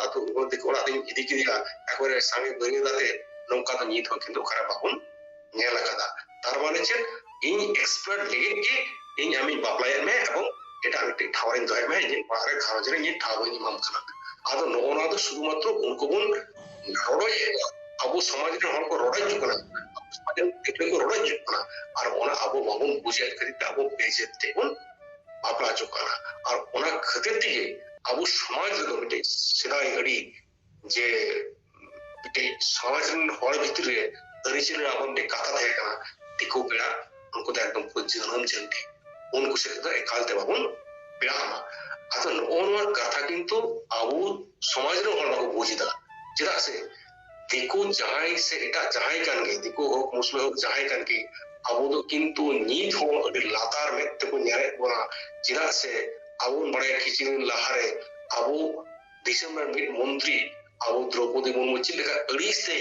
ᱟᱛᱳ ᱫᱤᱠᱩ ᱚᱲᱟᱜ ᱛᱮᱧ ᱤᱫᱤ ᱠᱮᱫᱮᱭᱟ ᱮᱠᱵᱟᱨᱮ ᱥᱟᱸᱜᱮ ᱵᱟᱹᱨᱭᱟᱹᱛ ᱟᱛᱮ ᱱᱚᱝᱠᱟ ᱫᱚ ᱱᱤᱛ ᱦᱚᱸ ᱠᱤᱱᱛᱩ ᱚᱠᱟᱨᱮ ᱵᱟᱵᱚᱱ ᱧᱮᱞ ᱟᱠᱟᱫᱟ ᱛᱟᱨ ᱢᱟᱱᱮ ᱪᱮᱫ ᱤᱧ ᱮᱠᱥᱯᱟᱨᱴ ᱞᱟᱹᱜᱤᱫ ᱜᱮ ᱤᱧ ᱟᱢᱤᱧ ᱵᱟᱯᱞᱟᱭᱮᱫ ᱢᱮ ᱮᱵᱚᱝ ᱮᱴᱟᱜ ᱢᱤᱫᱴᱤᱡ ᱴᱷᱟᱶ ᱨᱮᱧ ᱫᱚᱦᱚᱭᱮᱫ ᱢᱮ ᱤᱧᱟᱹᱜ ᱚᱲᱟᱜ ᱨᱮ ᱜᱷᱟᱨᱚᱸᱡᱽ ᱨᱮ ᱤᱧᱟᱹᱜ ᱴᱷᱟᱶ ᱵᱟᱹᱧ ᱮᱢᱟᱢ ᱠᱟᱱᱟ ᱟᱫᱚ ᱱᱚᱜᱼᱚ ᱱᱚᱣᱟ ᱫᱚ ᱥᱩᱫᱷᱩ ᱢᱟᱛᱨᱚ ᱩᱱᱠᱩ ᱵᱚᱱ ᱨᱚᱲᱚᱭᱮᱫ ᱟᱵᱚ ᱥᱚᱢᱟᱡᱽ ᱨᱮᱱ ᱦᱚᱲ ᱠᱚ ᱨᱚᱲᱚᱭ ᱦᱤᱡᱩᱜ ᱠᱟᱱᱟ ᱥᱚᱢᱟᱡᱽ ᱨᱮᱱ ᱜᱤᱫᱽᱨᱟᱹ ᱠᱚ ᱨᱚᱲᱚᱭ ᱦᱤᱡᱩᱜ ᱠᱟᱱᱟ ᱟᱨ ᱚᱱᱟ ᱟᱵᱚ ᱵᱟᱵᱚᱱ ᱵᱩᱡᱮᱫ ᱠᱷᱟᱹᱛᱤᱨ ᱛᱮ ᱟᱵᱚ ᱵᱮᱡᱮᱫ ᱛᱮᱵᱚᱱ ᱵᱟᱯᱞᱟ ᱦᱚᱪᱚᱜ ᱠᱟᱱᱟ ᱟᱨ ᱚᱱᱟ ᱠᱷᱟᱹᱛᱤᱨ ᱛᱮᱜᱮ ᱟᱵᱚ ᱥᱚᱢᱟᱡᱽ ᱨᱮᱫᱚ ᱢᱤᱫᱴᱮᱡ ᱥᱮᱫᱟᱭ ᱟᱹᱰᱤ ᱡᱮ ᱢᱤᱫᱴᱮᱡ ᱥᱚᱢᱟᱡᱽ ᱨᱮᱱ ᱦᱚᱲ ᱵᱷᱤᱛᱨᱤ ᱨᱮ ᱟᱹᱨᱤᱪᱟᱹᱞᱤ ᱨᱮ ᱟᱵᱚ ᱢᱤᱫᱴᱮᱡ ᱠᱟᱛᱷᱟ ᱛᱟᱦᱮᱸ ᱠᱟᱱᱟ ᱫᱤᱠᱩ ᱯᱮᱲᱟ ᱩᱱᱠᱩ ᱫᱚ ᱮᱠᱫᱚᱢ ᱠᱚ ᱡᱟᱹᱱᱟᱹᱢ ᱡᱟᱹᱱᱴᱤ ᱩᱱᱠᱩ ᱥᱮᱫ ᱫᱚ ᱮᱠᱟᱞ ᱛᱮ ᱵᱟᱵᱚᱱ ᱯᱮᱲᱟᱜ ᱢᱟ ᱟᱫᱚ ᱱᱚᱜᱼᱚ ᱱᱚᱣᱟ ᱠᱟᱛᱷᱟ ᱠᱤᱱᱛᱩ ᱟᱵᱚ ᱥᱚᱢᱟᱡᱽ ᱨᱮᱱ ᱦᱚᱲ ᱵᱟᱠᱚ ᱵᱩᱡᱽ ᱮᱫᱟ ᱪᱮᱫᱟᱜ ᱥᱮ ᱫᱤᱠᱩ ᱡᱟᱦᱟᱸᱭ ᱥᱮ ᱮᱴᱟᱜ ᱡᱟᱦᱟᱸᱭ ᱠᱟᱱ ᱜᱮ ᱫᱤᱠᱩ ᱦᱳᱠ ᱢᱩᱥᱞᱟᱹ ᱦᱳᱠ ᱡᱟᱦᱟᱸᱭ ᱠᱟᱱ ᱜᱮ ᱟᱵᱚ ᱫᱚ ᱠᱤᱱᱛᱩ ᱱᱤᱛ ᱦᱚᱸ ᱟᱹᱰᱤ ᱞᱟᱛᱟᱨ ᱢᱮᱫ ᱛᱮᱠᱚ ᱧᱮᱞᱮᱫ ᱵᱚᱱᱟ ᱪᱮᱫᱟᱜ ᱥᱮ ᱟᱵᱚ ᱵᱚᱱ ᱵᱟᱲᱟᱭᱟ ᱠᱤᱪᱷᱩ ᱫᱤᱱ ᱞᱟᱦᱟᱨᱮ ᱟᱵᱚ ᱫᱤᱥᱚᱢ ᱨᱮᱱ ᱢᱤᱫ ᱢᱚᱱᱛᱨᱤ ᱟᱵᱚ ᱫᱨᱚᱯᱚᱫᱤ ᱢᱩᱨᱢᱩ ᱪᱮᱫ ᱞᱮᱠᱟ ᱟᱹᱲᱤᱥ ᱛᱮ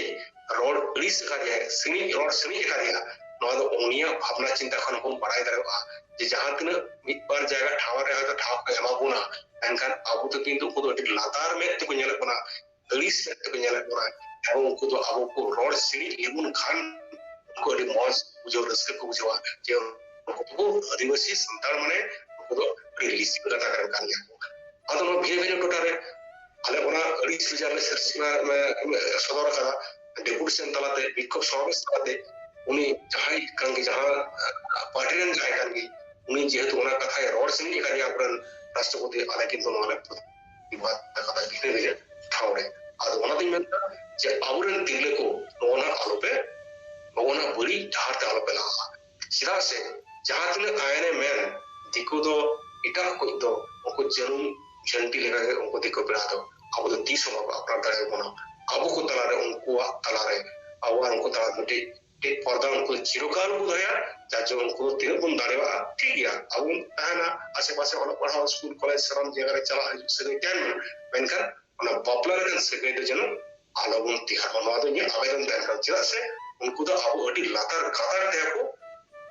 ᱨᱚᱲ ᱟᱹᱲᱤᱥ ᱟᱠᱟᱫᱮᱭᱟ ᱥᱤᱬᱤᱡ ᱨᱚᱲ ᱥᱤᱬᱤᱡ ᱟᱠᱟᱫᱮᱭᱟ ᱱᱚᱣᱟ ᱫᱚ ᱩᱱᱤᱭᱟᱜ ᱵᱷᱟᱵᱽᱱᱟ ᱪᱤᱱᱛᱟ ᱠᱷᱚᱱ ᱵᱚᱱ ᱵᱟᱲᱟᱭ ᱫᱟᱲᱮᱭᱟᱜᱼᱟ ᱡᱮ ᱡᱟᱦᱟᱸ ᱛᱤᱱᱟᱹᱜ ᱢᱤᱫ ᱵᱟᱨ ᱡᱟᱭᱜᱟ ᱴᱷᱟᱶ ᱨᱮ ᱦᱚᱭᱛᱳ ᱴᱷᱟᱶ ᱠᱚ ᱮᱢᱟ ᱵᱚᱱᱟ ᱢᱮᱱᱠᱷᱟᱱ ᱟᱵᱚ ᱫᱚ ᱠᱤᱱᱛᱩ ᱩᱱᱠᱩ ᱫᱚ ᱟᱹᱰᱤ ᱞᱟᱛᱟᱨ ᱢᱮᱫ ᱛᱮᱠᱚ ᱧᱮᱞᱮᱫ ᱵᱚᱱᱟ ᱟᱹᱲᱤᱥ ᱢᱮᱫ ᱛᱮᱠᱚ ᱧᱮᱞᱮᱫ ᱵᱚᱱᱟ ᱮᱵᱚᱝ ᱩᱱᱠᱩ ᱫᱚ ᱟᱵᱚ ᱠᱚ ᱨᱚᱲ ᱥᱤᱬᱤᱡ ᱞᱮᱵᱚᱱ ᱠᱷᱟᱱ ᱩᱱᱠᱩ ᱟᱹᱰᱤ ᱢᱚᱡᱽ ᱵᱩᱡᱷᱟᱹᱣ ᱨᱟᱹᱥᱠᱟᱹ ᱠᱚ ᱵᱩᱡᱷᱟᱹᱣᱟ ᱡᱮ ᱩᱱᱠᱩ ᱟᱹᱫᱤᱵᱟᱹᱥᱤ ᱥᱟᱱᱛᱟᱲ ᱢᱟᱱᱮ ᱩᱱᱠᱩ ᱫᱚ ᱟᱹᱰᱤ ᱞᱤᱥᱤ ᱠᱚ ᱠᱟᱛᱷᱟ ᱠᱟᱱ ᱜᱮᱭᱟ ᱠᱚ ᱟᱫᱚ ᱱᱚᱣᱟ ᱵᱷᱤᱱᱟᱹ ᱵᱷᱤᱱᱟᱹ ᱴᱚᱴᱷᱟ ᱨᱮ ᱟᱞᱮ ᱚᱱᱟ ᱟᱹᱰᱤ ᱥᱩᱡᱟ ᱞᱮ ᱥᱮᱨᱥᱤᱢᱟ ᱥᱚᱫᱚᱨ ᱠᱟᱫᱟ ᱰᱮᱯᱩᱴᱮᱥᱚᱱ ᱛᱟᱞᱟᱛᱮ ᱵᱤক্ষᱳᱵ ᱥᱚᱢᱟᱵᱮᱥ ᱛᱟᱞᱟᱛᱮ ᱩᱱᱤ ᱡᱟᱦᱟᱸᱭ ᱠᱟᱱ ᱜᱮ ᱡᱟᱦᱟᱸ ᱯᱟᱨᱴᱤ ᱨᱮᱱ ᱡᱟᱦᱟᱸᱭ ᱠᱟᱱ ᱜᱮ ᱩᱱᱤ ᱡᱮᱦᱮᱛᱩ ᱚᱱᱟ ᱠᱟᱛᱷᱟᱭ ᱨᱚᱲ ᱥᱮᱱᱤᱡ ᱠᱟᱱ ᱜᱮᱭᱟ ᱟᱵᱚᱨᱮᱱ ᱨᱟᱥᱴᱨᱚᱯᱚᱛᱤ ᱟᱞᱮ ᱠᱤᱱᱛᱩ ᱱᱚᱣᱟ ᱞᱮ ᱵᱤᱵᱟᱫ ᱠᱟᱫᱟ ᱵᱷᱤᱱᱟᱹ ᱵᱷᱤᱱᱟᱹ ᱴᱷᱟᱶ ᱨᱮ ᱟᱫᱚ ᱚᱱᱟᱛᱤᱧ ᱢᱮᱱᱫᱟ ᱡᱮ ᱟᱵᱚᱨᱮᱱ ᱛᱤᱨᱞᱟᱹ ᱠᱚ ᱱᱚᱜᱼᱚ ᱱᱟ ᱟᱞᱚᱯᱮ ᱱᱚᱜᱼᱚ ᱱᱟ ᱵᱟᱹᱲᱤᱡ ᱰᱟᱦᱟᱨ ᱛᱮ ᱟᱞᱚᱯᱮ ᱞᱟᱦᱟᱜᱼᱟ ᱪᱮᱫᱟᱜ ᱥᱮ ᱡᱟᱦᱟᱸ ᱛᱤᱱᱟᱹᱜ ᱟᱭᱮᱱ ᱮ ᱢᱮᱱ ᱫᱤᱠᱩ ᱫᱚ ᱮᱴᱟᱜ ᱠᱚᱭᱤᱡ ᱫᱚ ᱩᱱᱠᱩ ᱡᱟᱹᱱᱩᱢ ᱡᱷᱟᱹᱱᱴᱤ ᱞᱮᱠᱟ ᱜᱮ ᱩᱱᱠᱩ ᱫᱤᱠᱩ ᱯᱮᱲᱟ ᱫᱚ ᱟᱵᱚ ᱫᱚ ᱛᱤᱥ ᱦᱚᱸ ᱵᱟᱠᱚ ᱟᱯᱱᱟᱨ ᱫᱟᱲᱮ ᱟᱵᱚᱱᱟ ᱟᱵᱚ ᱠᱚ ᱛᱟᱞᱟ ᱨᱮ ᱩᱱᱠᱩᱣᱟᱜ ᱛᱟᱞᱟ ᱨᱮ ᱟᱵᱚ ᱟᱨ ᱩᱱᱠᱩ ᱛᱟᱞᱟ ᱨᱮ ᱢᱤᱫᱴᱤᱡ ᱯᱚᱨᱫᱟ ᱩᱱᱠᱩ ᱪᱤᱨᱚᱠᱟᱞ ᱠᱚ ᱫᱚᱦᱚᱭᱟ ᱡᱟᱨ ᱡᱚᱱᱱᱚ ᱩᱱᱠᱩ ᱫᱚ ᱛᱤᱱᱟᱹᱜ ᱵᱚᱱ ᱫᱟᱲᱮᱭᱟᱜᱼᱟ ᱴᱷᱤᱠ ᱜᱮᱭᱟ ᱟᱵᱚ ᱵᱚᱱ ᱛᱟᱦᱮᱱᱟ ᱟᱥᱮ ᱯᱟᱥᱮ ᱚᱞᱚᱜ ᱯᱟᱲᱦᱟᱣ ᱥᱠᱩᱞ ᱠᱚᱞᱮᱡᱽ ᱥᱟᱱᱟᱢ ᱡᱟᱭᱜᱟ ᱨᱮ ᱪᱟᱞᱟᱜ ᱦᱤᱡᱩᱜ ᱥᱟᱹᱜᱟᱹᱭ ᱛᱟᱦᱮᱱ ᱢᱟ ᱢᱮᱱᱠᱷᱟᱱ ᱚᱱᱟ ᱵᱟᱯᱞᱟ ᱨᱮᱱᱟᱜ ᱥᱟᱹᱜᱟᱹᱭ ᱫᱚ ᱡᱮᱱᱚ ᱟᱞᱚ ᱵᱚᱱ ᱛᱮᱭᱟᱨ ᱢᱟ ᱱᱚᱣᱟ ᱫᱚ ᱤᱧᱟᱹᱜ ᱟᱵᱮᱫᱚᱱ ᱛᱟᱦᱮᱱ ᱠᱟᱱᱟ ᱪᱮᱫᱟᱜ ᱥᱮ ᱩᱱᱠᱩ ᱫᱚ ᱟᱵᱚ ᱟᱹᱰᱤ ᱞᱟᱛᱟᱨ ᱜᱟᱛᱟᱨ ᱛᱮ ᱟᱠᱚ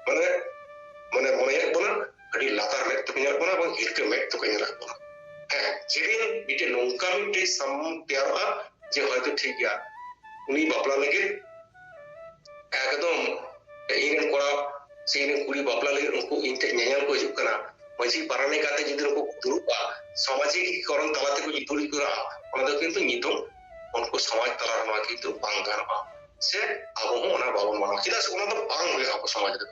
ᱢᱟᱱᱮ ᱢᱟᱱᱮ ᱢᱚᱱᱮᱭᱮᱫ ᱵᱚᱱᱟ ᱟᱹᱰᱤ ᱞᱟᱛᱟᱨ ᱢᱮᱫ ᱛᱮᱠᱚ ᱧᱮᱞ ᱵᱚᱱᱟ ᱵᱟᱝ ᱦᱤᱨᱠᱟᱹ ᱢᱮᱫ ᱛᱮᱠᱚ ᱧᱮᱞᱮᱫ ᱵᱚᱱᱟ ᱦᱮᱸ ᱡᱮᱫᱤᱱ ᱢᱤᱫᱴᱮᱱ ᱱᱚᱝᱠᱟ ᱢᱤᱫᱴᱮᱱ ᱥᱟᱢ ᱛᱮᱭᱟᱨᱚᱜᱼᱟ ᱡᱮ ᱦᱚᱭᱛᱳ ᱴᱷᱤᱠ ᱜᱮᱭᱟ ᱩᱱᱤ ᱵᱟᱯᱞᱟ ᱞᱟᱹᱜᱤᱫ ᱮᱠᱫᱚᱢ ᱤᱧ ᱨᱮᱱ ᱠᱚᱲᱟ ᱥᱮ ᱤᱧ ᱨᱮᱱ ᱠᱩᱲᱤ ᱵᱟᱯᱞᱟ ᱞᱟᱹᱜᱤᱫ ᱩᱱᱠᱩ ᱤᱧ ᱴᱷᱮᱱ ᱧᱮᱧᱮᱞ ᱠᱚ ᱦᱤᱡᱩᱜ ᱠᱟᱱᱟ ᱢᱟᱹᱡᱷᱤ ᱯᱟᱨᱟᱱᱤ ᱠᱟᱛᱮ ᱡᱩᱫᱤ ᱱᱩᱠᱩ ᱫᱩᱲᱩᱵᱼᱟ ᱥᱟᱢᱟᱡᱤᱠᱤᱠᱚᱨᱚᱱ ᱛᱟᱞᱟ ᱛᱮᱠᱚ ᱡᱩᱫᱤ ᱠᱚᱨᱟ ᱚᱱᱟ ᱫᱚ ᱠᱤᱱᱛᱩ ᱧᱤᱛᱩᱢ ᱩᱱᱠᱩ ᱥᱚᱢᱟᱡᱽ ᱛᱟᱞᱟ ᱨᱮ ᱱᱚᱣᱟ ᱠᱤᱱᱛᱩ ᱵᱟᱝ ᱜᱟᱱᱚᱜᱼᱟ ᱥᱮ ᱟᱵᱚ ᱦᱚᱸ ᱚᱱᱟ ᱵᱟᱵᱚᱱ ᱢᱟᱱᱟᱣ ᱪᱮᱫᱟᱜ ᱥᱮ ᱚᱱᱟ ᱫᱚ ᱵᱟᱝ ᱦᱩᱭᱩᱜᱼᱟ ᱟᱵᱚ ᱥᱚᱢᱟᱡᱽ ᱨᱮᱫᱚ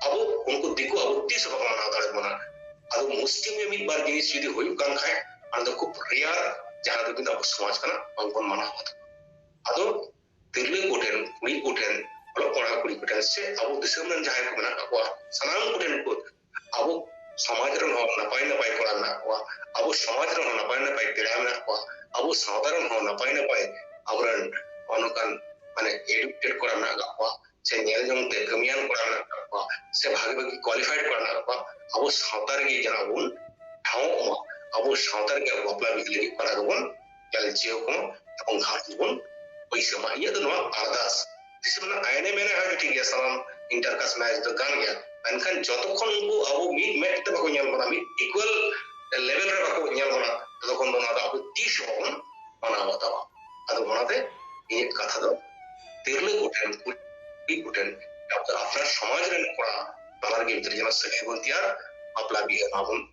ᱟᱵᱚ ᱩᱱᱠᱩ ᱫᱤᱠᱩ ᱟᱵᱚ ᱛᱤᱥ ᱵᱟᱠᱚ ᱢᱟᱱᱟᱣ ᱫᱟᱲᱮ ᱵᱚᱱᱟ ᱟᱫᱚ ᱢᱩᱥᱠᱤᱞ ᱜᱮ ᱢᱤᱫ ᱵᱟᱨ ᱡᱤᱱᱤᱥ ᱡᱩᱫᱤ ᱦᱩᱭᱩᱜ ᱠᱟᱱ ᱠᱷᱟᱡ ᱚᱱᱟ ᱫᱚ ᱠᱷᱩᱵ ᱨᱮᱭᱟᱨ ᱡᱟᱦᱟᱸ ᱫᱚ ᱠᱤᱱᱛᱩ ᱟᱵᱚ ᱥᱚᱢᱟᱡᱽ ᱠᱟᱱᱟ ᱵᱟᱝᱵᱚᱱ ᱢᱟᱱᱟᱣ ᱟᱫᱚ ᱛᱤᱨᱞᱟᱹ ᱠᱚᱴᱷᱮᱱ, ᱠᱩᱲᱤ ᱠᱚᱴᱷᱮᱱ, ᱚᱞᱚᱜ ᱯᱟᱲᱦᱟᱣ ᱠᱩᱲᱤ ᱠᱚᱴᱷᱮᱱ ᱥᱮ ᱟᱵᱚ ᱫᱤᱥᱚᱢ ᱨᱮᱱ ᱡᱟᱦᱟᱸᱭ ᱠᱚ ᱢᱮᱱᱟᱜ ᱠᱟᱜ ᱠᱚᱣᱟ ᱥᱟᱱᱟᱢ ᱠᱚᱴᱷᱮᱱ ᱠᱚ ᱟᱵᱚ ᱥᱚᱢᱟᱡᱽ ᱨᱮᱱ ᱦᱚᱸ ᱱᱟᱯᱟᱭ ᱱᱟᱯᱟᱭ ᱠᱚᱲᱟ ᱢᱮᱱᱟᱜ ᱠᱚᱣᱟ ᱟᱵᱚ ᱥᱚᱢᱟᱡᱽ ᱨᱮᱱ ᱦᱚᱸ ᱱᱟᱯᱟᱭ ᱱᱟᱯᱟᱭ ᱯᱮᱲᱟ ᱢᱮᱱᱟᱜ ᱠᱚᱣᱟ ᱟᱵᱚ ᱥᱟᱶᱛᱟ ᱨᱮᱱ ᱦᱚᱸ ᱱᱟᱯᱟᱭ ᱱᱟᱯᱟᱭ ᱟᱵᱚᱨᱮᱱ ᱚᱱᱠᱟᱱ ᱢᱟᱱᱮ ᱮᱰᱩᱠᱮᱴᱮᱰ ᱠᱚᱲᱟ ᱢᱮᱱᱟᱜ ᱠᱟᱜ ᱠᱚᱣᱟ ᱥᱮ ᱧᱮᱞ ᱡᱚᱝ ᱛᱮ ᱠᱟᱹᱢᱤᱭᱟᱱ ᱠᱚᱲᱟ ᱢᱮᱱᱟᱜ ᱠᱟᱜ ᱠᱚᱣᱟ ᱥᱮ ᱵᱷᱟᱜᱮ ᱵᱷᱟᱜᱮ ᱠᱣᱟᱞᱤᱯᱷᱟᱭᱰ ᱠᱚᱲᱟ ᱢᱮᱱᱟᱜ ᱠᱟᱜ ᱠᱚᱣᱟ ᱟᱵᱚ ᱥᱟᱶᱛᱟ ᱨᱮᱜᱮ ᱡᱟᱦᱟᱸ ᱵᱚᱱ ᱴᱷᱟᱶᱚᱜ ᱢᱟ ᱟᱵᱚ ᱥᱟᱶᱛᱟ ᱨᱮᱜᱮ ᱵᱟᱯᱞᱟ ᱵᱤᱦᱟᱹ ᱞᱟᱹᱜᱤᱫ ᱯᱟᱲᱟ ᱫᱚᱵᱚᱱ ᱧᱮᱞ ᱪᱮᱫ ᱠᱚ ᱮᱵᱚᱝ ᱜᱷᱟᱴ ᱵᱚᱱ ᱯᱚᱭᱥᱟ ᱢᱟ ᱤᱧᱟᱹᱜ ᱫᱚ ᱱᱚᱣᱟ ᱟᱨᱫᱟᱥ ᱫᱤᱥᱚᱢ ᱨᱮᱱᱟᱜ ᱟᱭᱱᱮ ᱢᱮᱱᱟ ᱦᱟᱸᱜ ᱴᱷᱤᱠ ᱜᱮᱭᱟ ᱥᱟᱱᱟᱢ ᱤᱱᱴᱟᱨ ᱠᱟᱥᱴ ᱢᱮᱨᱮᱡᱽ ᱫᱚ ᱜᱟᱱ ᱜᱮᱭᱟ ᱢᱮᱱᱠᱷᱟᱱ ᱡᱚᱛᱚ ᱠᱷᱚᱱ ᱩᱱᱠᱩ ᱟᱵᱚ ᱢᱤᱫ ᱢᱮᱫ ᱛᱮ ᱵᱟᱠᱚ ᱧᱮᱞ ᱵᱚᱱᱟ ᱢᱤᱫ ᱤᱠᱩᱣᱟᱞ ᱞᱮᱵᱮᱞ ᱨᱮ ᱵᱟᱠᱚ ᱧᱮᱞ ᱵᱚᱱᱟ ᱛᱚᱛᱚ ᱠᱷᱚᱱ ᱫᱚ ᱚᱱᱟ ᱫᱚ ᱟᱵᱚ ᱛᱤᱥ ᱦᱚᱸ ᱵᱟᱵᱚᱱ ᱢᱟᱱᱟᱣ ᱵᱟᱛᱟᱣᱟ ᱟᱫᱚ ᱚᱱᱟᱛᱮ ᱤᱧᱟᱹᱜ ᱠᱟᱛᱷᱟ ᱫᱚ ᱛᱤᱨᱞᱟᱹ ᱠᱚᱴᱷᱮᱱ ᱠᱩᱲᱤ ᱠᱚᱴᱷᱮᱱ ᱟᱯᱱᱟᱨ ᱥᱚᱢᱟᱡᱽ ᱨᱮᱱ ᱠᱚᱲᱟ ᱵᱟᱱᱟᱨ ᱜᱮ ᱜᱤᱫᱽᱨᱟᱹ ᱡᱮᱱᱚ ᱥᱟᱹᱜᱟᱹᱭ ᱵᱚᱱ ᱛᱮᱭᱟᱨ ᱵᱟᱯᱞᱟ ᱵᱤᱦᱟᱹ ᱢᱟᱵᱚᱱ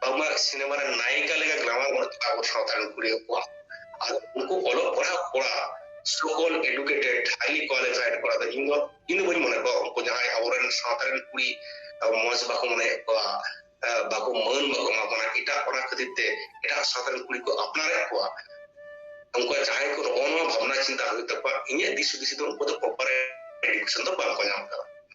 ᱵᱟᱝᱢᱟ ᱥᱤᱱᱮᱢᱟ ᱨᱮ ᱱᱟᱭᱤᱠᱟ ᱞᱮᱠᱟ ᱜᱨᱟᱢᱟᱨ ᱵᱟᱹᱱᱩᱜ ᱛᱟᱠᱚᱣᱟ ᱟᱵᱚ ᱥᱟᱶᱛᱟ ᱨᱮᱱ ᱠᱩᱲᱤ ᱠᱚᱣᱟᱜ ᱟᱨ ᱩᱱᱠᱩ ᱚᱞᱚᱜ ᱯᱟᱲᱦᱟᱜ ᱠᱚᱲᱟ ᱥᱚᱠᱚᱞ ᱮᱰᱩᱠᱮᱴᱮᱰ ᱦᱟᱭᱞᱤ ᱠᱳᱣᱟᱞᱤᱯᱷᱟᱭᱰ ᱠᱚᱲᱟ ᱫᱚ ᱤᱧ ᱫᱚ ᱤᱧ ᱫᱚ ᱵᱟᱹᱧ ᱢᱚᱱᱮ ᱠᱚᱣᱟ ᱩᱱᱠᱩ ᱡᱟᱦᱟᱸᱭ ᱟᱵᱚᱨᱮᱱ ᱥᱟᱶᱛᱟ ᱨᱮᱱ ᱠᱩᱲᱤ ᱢᱚᱡᱽ ᱵᱟᱠᱚ ᱢᱚᱱᱮᱭᱮᱫ ᱠᱚᱣᱟ ᱵᱟᱠᱚ ᱢᱟᱹᱱ ᱵᱟᱠᱚ ᱮᱢᱟ ᱠᱚ ᱠᱟᱱᱟ ᱮᱴᱟᱜ ᱚᱱᱟ ᱠᱷᱟᱹᱛᱤᱨ ᱛᱮ ᱮᱴᱟᱜ ᱥᱟᱶᱛᱟ ᱨᱮᱱ ᱠᱩᱲᱤ ᱠᱚ ᱟᱯᱱᱟᱨᱮᱫ ᱠᱚᱣᱟ ᱩᱱᱠᱩ ᱡᱟᱦᱟᱸᱭ ᱠᱚ ᱱᱚᱜᱼᱚ ᱱᱚᱣᱟ ᱵᱷᱟᱵᱽᱱᱟ ᱪᱤᱱᱛᱟ ᱦᱩᱭᱩᱜ ᱛᱟᱠᱚᱣᱟ ᱤᱧᱟᱹᱜ ᱫᱤᱥ ᱦᱩᱫᱤᱥ ᱫᱚ ᱩᱱᱠᱩ ᱫᱚ ᱯᱨᱚᱯᱟᱨ ᱮᱰᱩᱠᱮᱥᱚᱱ ᱫᱚ ᱵᱟᱝᱠᱚ ᱧᱟᱢ ᱠᱟᱫᱟ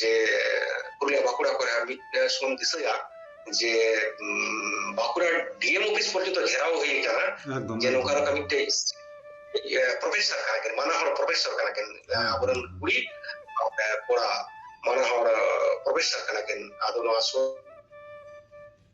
ᱡᱮ ᱯᱩᱨᱩᱞᱤᱭᱟ ᱵᱟᱸᱠᱩᱲᱟ ᱠᱚᱨᱮ ᱟᱨ ᱢᱤᱫ ᱥᱚᱢᱚᱭ ᱫᱤᱥᱟᱹᱭᱟ ᱡᱮ ᱵᱟᱸᱠᱩᱲᱟ ᱰᱤᱮᱢ ᱚᱯᱷᱤᱥ ᱯᱚᱨᱡᱚᱱᱛ ᱜᱷᱮᱨᱟᱣ ᱦᱩᱭ ᱠᱟᱱᱟ ᱡᱮ ᱱᱚᱝᱠᱟ ᱞᱮᱠᱟ ᱢᱤᱫᱴᱮᱡ ᱯᱨᱚᱯᱷᱮᱥᱚᱨ ᱠᱟᱱᱟ ᱠᱤᱱ ᱢᱟᱱᱟ ᱦᱚᱲ ᱯᱨᱚᱯᱷᱮᱥᱚᱨ ᱠᱟᱱᱟ ᱠᱤᱱ ᱟᱵᱚᱨᱮᱱ ᱠᱩᱲᱤ ᱠᱚᱲᱟ ᱢᱟᱱᱟ ᱦᱚᱲ ᱯᱨᱚᱯᱷᱮᱥᱚᱨ ᱠᱟᱱᱟ ᱠᱤᱱ ᱟᱫᱚ ᱱᱚᱣᱟ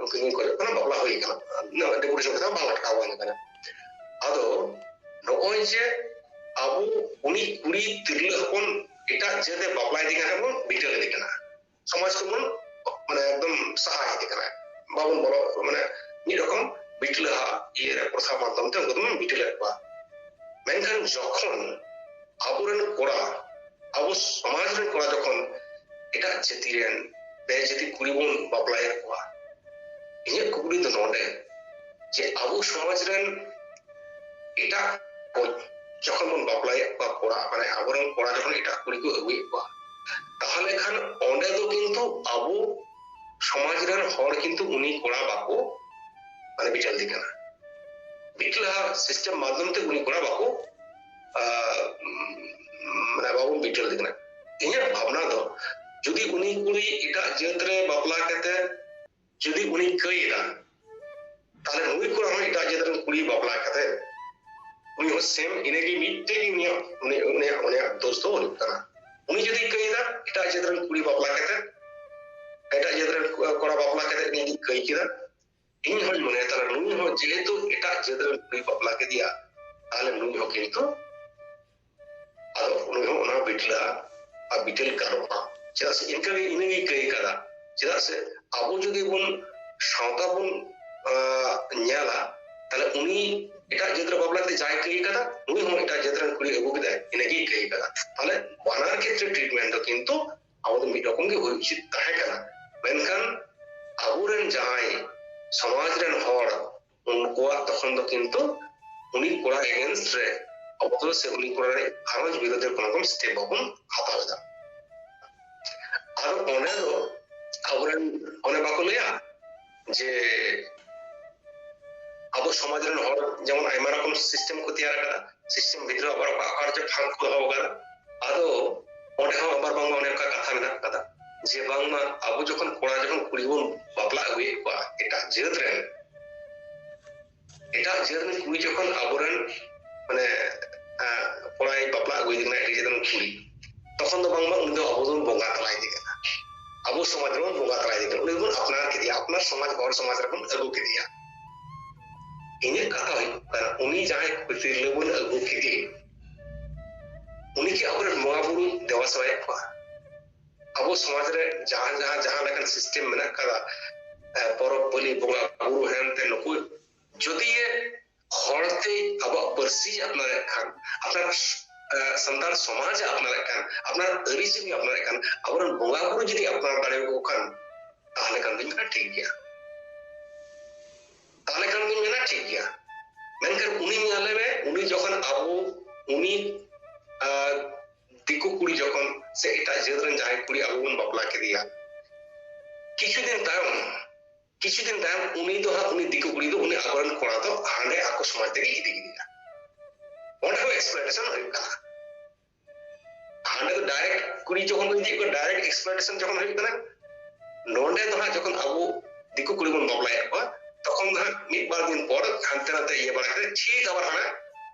ᱩᱱᱠᱤ ᱢᱩ ᱠᱚᱨᱮ ᱠᱟᱱᱟ ᱵᱟᱯᱞᱟ ᱦᱩᱭ ᱠᱟᱱᱟ ᱱᱚᱣᱟ ᱰᱮᱠᱳᱨᱮᱥᱚᱱ ᱠᱟᱛᱮ ᱵᱟᱝ ᱞᱟᱴᱠᱟᱣ ᱵᱟᱝ ᱠᱟᱱᱟ ᱟᱫᱚ ᱱᱚᱜᱼᱚᱭ ᱡᱮ ᱟᱵᱚ ᱩᱱᱤ ᱠᱩᱲᱤ ᱛᱤᱨᱞᱟᱹ ᱦᱚᱯᱚᱱ ᱮᱴᱟᱜ ᱡᱟᱹᱛᱮ ᱵᱟᱯᱞᱟ ᱤᱫᱤ ᱠᱟᱱᱟ ᱵᱚᱱ ᱵᱤᱴᱟᱹ ᱤᱫᱤ ᱠᱟᱱᱟ ᱥᱚᱢᱟᱡᱽ ᱠᱚᱵᱚᱱ ᱢᱟᱱᱮ ᱮᱠᱫᱚᱢ ᱥᱟᱦᱟ ᱤᱫᱤ ᱠᱟᱱᱟ ᱵᱟᱵᱚᱱ ᱵᱚᱞᱚ ᱢᱟᱱᱮ ᱢᱤᱫ ᱨᱚᱠᱚᱢ ᱵᱤᱴᱞᱟᱦᱟ ᱤᱭᱟᱹ ᱨᱮ ᱯᱨᱚᱥᱟ ᱢᱟᱫᱽᱫᱷᱚᱢ ᱛᱮ ᱩᱱᱠᱩ ᱫᱚᱵᱚᱱ ᱵᱤᱴᱟᱹ ᱞᱮᱫ ᱠᱚᱣᱟ ᱢᱮᱱᱠᱷᱟᱱ ᱡᱚᱠᱷᱚᱱ ᱟᱵᱚᱨᱮᱱ ᱠᱚᱲᱟ ᱟᱵᱚ ᱥᱚᱢᱟᱡᱽ ᱨᱮᱱ ᱠᱚᱲᱟ ᱡᱚᱠᱷᱚᱱ ᱮᱴᱟᱜ ᱡᱟᱹᱛᱤ ᱨᱮᱱ ᱵᱮ ᱡᱟᱹᱛᱤ ᱠᱩᱲᱤ ᱵᱚᱱ ᱵᱟᱯᱞᱟᱭᱮᱫ ᱠᱚᱣᱟ ᱤᱧᱟᱹᱜ ᱠᱩᱠᱞᱤ ᱫᱚ ᱱᱚᱰᱮ ᱡᱮ ᱟᱵᱚ ᱥᱚᱢᱟᱡᱽ ᱨᱮᱱ ᱮᱴᱟᱜ ᱡᱚᱠᱷᱚᱱ ᱵᱚᱱ ᱵᱟᱯᱞᱟᱭᱮᱫ ᱠᱚᱣᱟ ᱠᱚᱲᱟ ᱢᱟᱱᱮ ᱟᱵᱚᱨᱮᱱ ᱠᱚᱲᱟ ᱡᱚᱠᱷᱚᱱ ᱮᱴᱟᱜ ᱠᱩᱲᱤ ᱠᱚ ᱟᱹᱜᱩᱭᱮᱫ ᱠᱚᱣᱟ ᱛᱟᱦᱚᱞᱮ ᱠᱷᱟᱱ ᱚᱸᱰᱮ ᱫᱚ ᱠᱤᱱᱛᱩ ᱟᱵᱚ ᱥᱚᱢᱟᱡᱽ ᱨᱮᱱ ᱦᱚᱲ ᱠᱤᱱᱛᱩ ᱩᱱᱤ ᱠᱚᱲᱟ ᱵᱟᱠᱚ ᱢᱟᱱᱮ ᱵᱤᱪᱟᱹᱨ ᱫᱤ ᱠᱟᱱᱟ ᱢᱤᱫᱴᱟᱝ ᱥᱤᱥᱴᱮᱢ ᱢᱟᱫᱽᱫᱷᱚᱢ ᱛᱮ ᱩᱱᱤ ᱠᱚᱲᱟ ᱵᱟᱠᱚ ᱢᱟᱱᱮ ᱵᱟᱵᱚᱱ ᱵᱤᱪᱟᱹᱨ ᱠᱟᱱᱟ ᱤᱧᱟᱹᱜ ᱵᱷᱟᱵᱽᱱᱟ ᱫᱚ ᱡᱩᱫᱤ ᱩᱱᱤ ᱠᱩᱲᱤ ᱮᱴᱟᱜ ᱡᱟᱹᱛ ᱨᱮ ᱵᱟᱯᱞᱟ ᱠᱟᱛᱮ ᱡᱩᱫᱤ ᱩᱱᱤ ᱠᱟᱹᱭᱮᱫᱟ ᱛᱟᱦᱞᱮ ᱱᱩᱭ ᱠᱚᱲᱟ ᱦᱚᱸ ᱮᱴᱟᱜ ᱡᱟᱹᱛ ᱨᱮᱱ ᱠᱩᱲᱤ ᱵᱟᱯᱞᱟ ᱠᱟᱛᱮ ᱩᱱᱤ ᱦᱚᱸ ᱥᱮᱢ ᱤᱱᱟᱹᱜᱮ ᱢᱤᱫᱴᱮᱡ ᱜᱮ ᱩᱱᱤᱭᱟᱜ ᱩᱱᱤᱭᱟᱜ ᱩᱱᱤᱭᱟᱜ ᱫᱳᱥ ᱫᱚ ᱦᱩᱭᱩᱜ ᱠᱟᱱᱟ ᱩᱱᱤ ᱡᱩᱫᱤ ᱠᱟᱹᱭᱮᱫᱟ ᱮᱴᱟᱜ ᱡᱟᱹᱛ ᱨᱮᱱ ᱠᱩᱲᱤ ᱵᱟᱯᱞᱟ ᱠᱟᱛᱮ ᱮᱴᱟᱜ ᱡᱟᱹᱛ ᱨᱮᱱ ᱠᱚᱲᱟ ᱵᱟᱯᱞᱟ ᱠᱟᱛᱮ ᱩᱱᱤ ᱠᱟᱹᱭ ᱠᱮᱫᱟ ᱤᱧ ᱦᱚᱸᱧ ᱢᱚᱱᱮᱭᱟ ᱛᱟᱦᱞᱮ ᱱᱩᱭ ᱦᱚᱸ ᱡᱮᱦᱮᱛᱩ ᱮᱴᱟᱜ ᱡᱟᱹᱛ ᱨᱮᱱ ᱠᱩᱲᱤ ᱵᱟᱯᱞᱟ ᱠᱮᱫᱮᱭᱟ ᱛᱟᱦᱞᱮ ᱱᱩᱭ ᱦᱚᱸ ᱠᱤᱱᱛᱩ ᱟᱫᱚ ᱩᱱᱤ ᱦᱚᱸ ᱚᱱᱟ ᱵᱤᱴᱞᱟᱜᱼᱟ ᱟᱨ ᱵᱤᱴᱮᱞ ᱜᱟᱱᱚᱜᱼᱟ ᱪᱮᱫᱟᱜ ᱥᱮ ᱤᱱᱠᱟᱹ ᱜᱮ ᱤᱱᱟᱹᱜᱮ ᱠᱟᱹᱭ ᱠᱟᱫᱟ ᱪᱮᱫᱟᱜ ᱥᱮ ᱟᱵᱚ ᱡᱩᱫᱤ ᱵᱚᱱ ᱥᱟᱶᱛᱟ ᱵᱚᱱ ᱧᱮᱞᱟ ᱛᱟᱦᱞᱮ ᱩᱱᱤ ᱮᱴᱟᱜ ᱡᱟᱹᱛ ᱨᱮ ᱵᱟᱯᱞᱟ ᱠᱟᱛᱮ ᱡᱟᱦᱟᱸᱭ ᱠᱟᱹᱭ ᱠᱟᱫᱟ ᱩᱱᱤ ᱦᱚᱸ ᱮᱴᱟᱜ ᱡᱟᱹᱛ ᱨᱮᱱ ᱠᱩᱲᱤ ᱟᱹᱜᱩ ᱠᱮᱫᱟᱭ ᱤᱱᱟᱹᱜᱮ ᱠᱟᱹᱭ ᱠᱟᱫᱟ ᱛᱟᱦᱞᱮ ᱵᱟᱱᱟᱨ ᱠᱷᱮᱛᱨᱮ ᱴᱨᱤᱴᱢᱮᱱᱴ ᱫᱚ ᱠᱤᱱᱛᱩ ᱟᱵᱚ ᱫᱚ ᱢᱤᱫ ᱨᱚᱠᱚᱢ ᱜᱮ ᱦᱩᱭ ᱩᱪᱤᱛ ᱛᱟᱦᱮᱸ ᱠᱟᱱᱟ ᱢᱮᱱᱠᱷᱟᱱ ᱟᱵᱚᱨᱮᱱ ᱡᱟᱦᱟᱸᱭ ᱥᱚᱢᱟᱡᱽ ᱨᱮᱱ ᱦᱚᱲ ᱩᱱᱠᱩᱣᱟᱜ ᱛᱚᱠᱷᱚᱱ ᱫᱚ ᱠᱤᱱᱛᱩ ᱩᱱᱤ ᱠᱚᱲᱟ ᱮᱜᱮᱱᱥᱴ ᱨᱮ ᱟᱵᱚ ᱫᱚ ᱥᱮ ᱩᱱᱤ ᱠᱚᱲᱟ ᱨᱮ ᱜᱷᱟᱨᱚᱸᱡᱽ ᱵᱤᱨᱳᱫᱷ ᱨᱮ ᱠᱳᱱᱳ ᱨᱚᱠᱚᱢ ᱥᱴᱮᱯ ᱵᱟᱵᱚᱱ ᱦᱟᱛᱟᱣ ᱮᱫᱟ ᱟᱫᱚ ᱚᱸᱰᱮ ᱫᱚ ᱟᱵᱚᱨᱮᱱ ᱚᱱᱮ ᱵᱟᱠᱚ ᱞᱟᱹᱭᱟ ᱡᱮ ᱟᱵᱚ ᱥᱚᱢᱟᱡᱽ ᱨᱮᱱ ᱦᱚᱲ ᱡᱮᱢᱚᱱ ᱟᱭᱢᱟ ᱨᱚᱠᱚᱢ ᱥᱤᱥᱴᱮᱢ ᱠᱚ ᱛᱮᱭᱟᱨ ᱟᱠᱟᱫᱟ ᱥᱤᱥᱴᱮᱢ ᱵᱷᱤᱛᱨᱤ ᱟᱵᱟᱨ ᱚᱠᱟ ᱚᱠᱟ ᱨᱮᱪᱚ ᱯᱷᱟᱸᱠ ᱠᱚ ᱫᱚᱦᱚ ᱟᱠᱟᱫᱟ ᱟᱫᱚ ᱚᱸᱰᱮ ᱦᱚᱸ ᱟᱵᱟᱨ ᱵᱟᱝᱢᱟ ᱚᱱᱮ ᱚᱱᱠᱟ ᱠᱟᱛᱷᱟ ᱢᱮᱱᱟᱜ ᱟᱠᱟᱫᱟ ᱡᱮ ᱵᱟᱝᱢᱟ ᱟᱵᱚ ᱡᱚᱠᱷᱚᱱ ᱠᱚᱲᱟ ᱡᱚᱠᱷᱚᱱ ᱠᱩᱲᱤ ᱵᱚᱱ ᱵᱟᱯᱞᱟ ᱟᱹᱜᱩᱭᱮᱫ ᱠᱚᱣᱟ ᱮᱴᱟᱜ ᱡᱟᱹᱛ ᱨᱮᱱ ᱮᱴᱟᱜ ᱡᱟᱹᱛ ᱨᱮᱱ ᱠᱩᱲᱤ ᱡᱚᱠᱷᱚᱱ ᱟᱵᱚᱨᱮᱱ ᱢᱟᱱᱮ ᱠᱚᱲᱟᱭ ᱵᱟᱯᱞᱟ ᱟᱹᱜᱩᱭᱮ ᱠᱟᱱᱟ ᱮᱴᱟᱜ ᱡᱟᱹᱛ ᱨᱮᱱ ᱠᱩᱲᱤ ᱛᱚᱠᱷᱚᱱ ᱫᱚ ᱵᱟᱝᱢᱟ ᱩᱱᱤ ᱫᱚ ᱟᱵᱚ ᱫᱚᱵᱚᱱ ᱵᱚᱸᱜᱟ ᱛᱟᱞᱟᱭᱮᱫᱮ ᱠᱟᱱᱟ ᱟᱵᱚ ᱥᱚᱢᱟᱡᱽ ᱨᱮᱵᱚᱱ ᱵᱚᱸᱜᱟ ᱛᱟᱞᱟᱭᱮᱫᱮ ᱠᱟᱱᱟ ᱩᱱᱤ ᱫᱚᱵᱚᱱ ᱟᱯᱱᱟᱨ ᱠᱮᱫᱮᱭᱟ ᱟᱯᱱᱟᱨ ᱥᱚᱢᱟᱡᱽ ᱦᱚᱲ ᱥᱚᱢᱟᱡᱽ ᱨᱮᱵᱚᱱ ᱟᱹᱜᱩ ᱠᱮᱫᱮᱭᱟ ᱤᱧᱟᱹᱜ ᱠᱟᱛᱷᱟ ᱦᱩᱭᱩᱜ ᱠᱟᱱᱟ ᱩᱱᱤ ᱡᱟᱦᱟᱸᱭ ᱛᱤᱨᱞᱟᱹ ᱵᱚᱱ ᱟᱹᱜᱩ ᱠᱮᱫᱮ ᱩᱱᱤ ᱠᱤ ᱟᱵᱚᱨᱮᱱ ᱵᱚᱸᱜᱟ ᱵᱩᱨᱩ ᱫᱮᱵᱟ ᱥᱮᱵᱟᱭᱮᱫ ᱠᱚᱣᱟ ᱟᱵᱚ ᱥᱚᱢᱟᱡᱽ ᱨᱮ ᱡᱟᱦᱟᱸ ᱡᱟᱦᱟᱸ ᱡᱟᱦᱟᱸ ᱞᱮᱠᱟᱱ ᱥᱤᱥᱴᱮᱢ ᱢᱮᱱᱟᱜ ᱟᱠᱟᱫᱟ ᱯᱚᱨᱚᱵᱽ ᱯᱟᱹᱞᱤ ᱵᱚᱸᱜᱟ ᱵᱩᱨᱩ ᱦᱮᱱᱛᱮ ᱱᱩᱠᱩ ᱡᱩᱫᱤ ᱦᱚᱲᱛᱮ ᱟᱵᱚᱣᱟᱜ ᱯᱟᱹᱨᱥᱤ ᱟᱯᱱᱟᱨᱮᱫ ᱠᱷᱟᱱ ᱟᱯᱱᱟᱨ ᱥᱟᱱᱛᱟᱲ ᱥᱚᱢᱟᱡᱽ ᱟᱯᱱᱟᱨᱮᱫ ᱠᱷᱟᱱ ᱟᱯᱱᱟᱨ ᱟᱹᱨᱤᱪᱟᱹᱞᱤ ᱟᱯᱱᱟᱨᱮᱫ ᱠᱷᱟᱱ ᱟᱵᱚᱨᱮᱱ ᱵᱚᱸᱜᱟ ᱵᱩᱨᱩ ᱡᱩᱫᱤ ᱟᱯᱱᱟᱨ ᱫᱟᱲᱮᱭᱟᱠᱚ ᱠᱷᱟᱱ ᱛᱟᱦᱚᱞᱮ ᱠᱷᱟᱱ ᱫᱚᱧ ᱢᱮᱱᱟ ᱴᱷᱤᱠ ᱜᱮᱭᱟ ᱛᱟᱦᱚᱞᱮ ᱠᱷᱟᱱ ᱫᱚᱧ ᱢᱮᱱᱟ ᱴᱷᱤᱠ ᱜᱮᱭᱟ ᱢᱮᱱᱠᱷᱟᱱ ᱩᱱᱤ ᱧᱮᱞᱮ ᱢᱮ ᱩᱱᱤ ᱡᱚᱠᱷᱚᱱ ᱟᱵᱚ ᱩᱱᱤ ᱫᱤᱠᱩ ᱠᱩᱲᱤ ᱡᱚᱠᱷᱚᱱ ᱥᱮ ᱮᱴᱟᱜ ᱡᱟᱹᱛ ᱨᱮᱱ ᱡᱟᱦᱟᱸᱭ ᱠᱩᱲᱤ ᱟᱵᱚ ᱵᱚᱱ ᱵᱟᱯᱞᱟ ᱠᱮᱫᱮᱭᱟ ᱠᱤᱪᱷᱩ ᱫᱤᱱ ᱛᱟᱭᱚᱢ ᱠᱤᱪᱷᱩ ᱫᱤᱱ ᱛᱟᱭᱚᱢ ᱩᱱᱤ ᱫᱚ ᱦᱟᱸᱜ ᱩᱱᱤ ᱫᱤᱠᱩ ᱠᱩᱲᱤ ᱫᱚ ᱩᱱᱤ ᱟᱵᱚᱨᱮᱱ ᱠᱚᱲᱟ ᱫᱚ ᱦᱟᱸᱰᱮ ᱟᱠᱚ ᱥᱚᱢᱟᱡᱽ ᱛᱮᱜᱮ ᱤᱫᱤ ᱠᱮᱫᱮᱭᱟ ᱚᱸᱰᱮ ᱦᱚᱸ ᱮᱠᱥᱯᱞᱚᱭᱴᱮᱥᱚᱱ ᱦᱩᱭᱩᱜ ᱠᱟᱱᱟ ᱦᱟᱸᱰᱮ ᱫᱚ ᱰᱟᱭᱨᱮᱠᱴ ᱠᱩᱲᱤ ᱡᱚᱠᱷᱚᱱ ᱠᱚ ᱤᱫᱤᱭᱮᱫ ᱠᱚᱣᱟ ᱰᱟᱭᱨᱮᱠᱴ ᱮᱠᱥᱯᱞᱚᱭᱴᱮᱥᱚᱱ ᱡᱚᱠᱷᱚᱱ ᱦᱩᱭᱩᱜ ᱠᱟᱱᱟ ᱱᱚᱸᱰᱮ ᱫᱚ ᱦᱟᱸᱜ ᱡᱚᱠᱷᱚᱱ ᱟᱵᱚ ᱫᱤᱠᱩ ᱠᱩᱲᱤ ᱵᱚᱱ ᱵᱟᱯᱞᱟᱭᱮᱫ ᱠᱚᱣᱟ ᱛᱚᱠᱷᱚᱱ ᱫᱚ ᱦᱟᱸᱜ ᱢᱤᱫ ᱵᱟᱨ ᱫᱤᱱ ᱯᱚᱨ ᱦᱟᱱᱛᱮ ᱱᱟᱛᱮ ᱤᱭᱟᱹ ᱵᱟᱲᱟ ᱠᱟᱛᱮ ᱴᱷᱤᱠ ᱟᱵᱟᱨ ᱦᱟᱸᱜ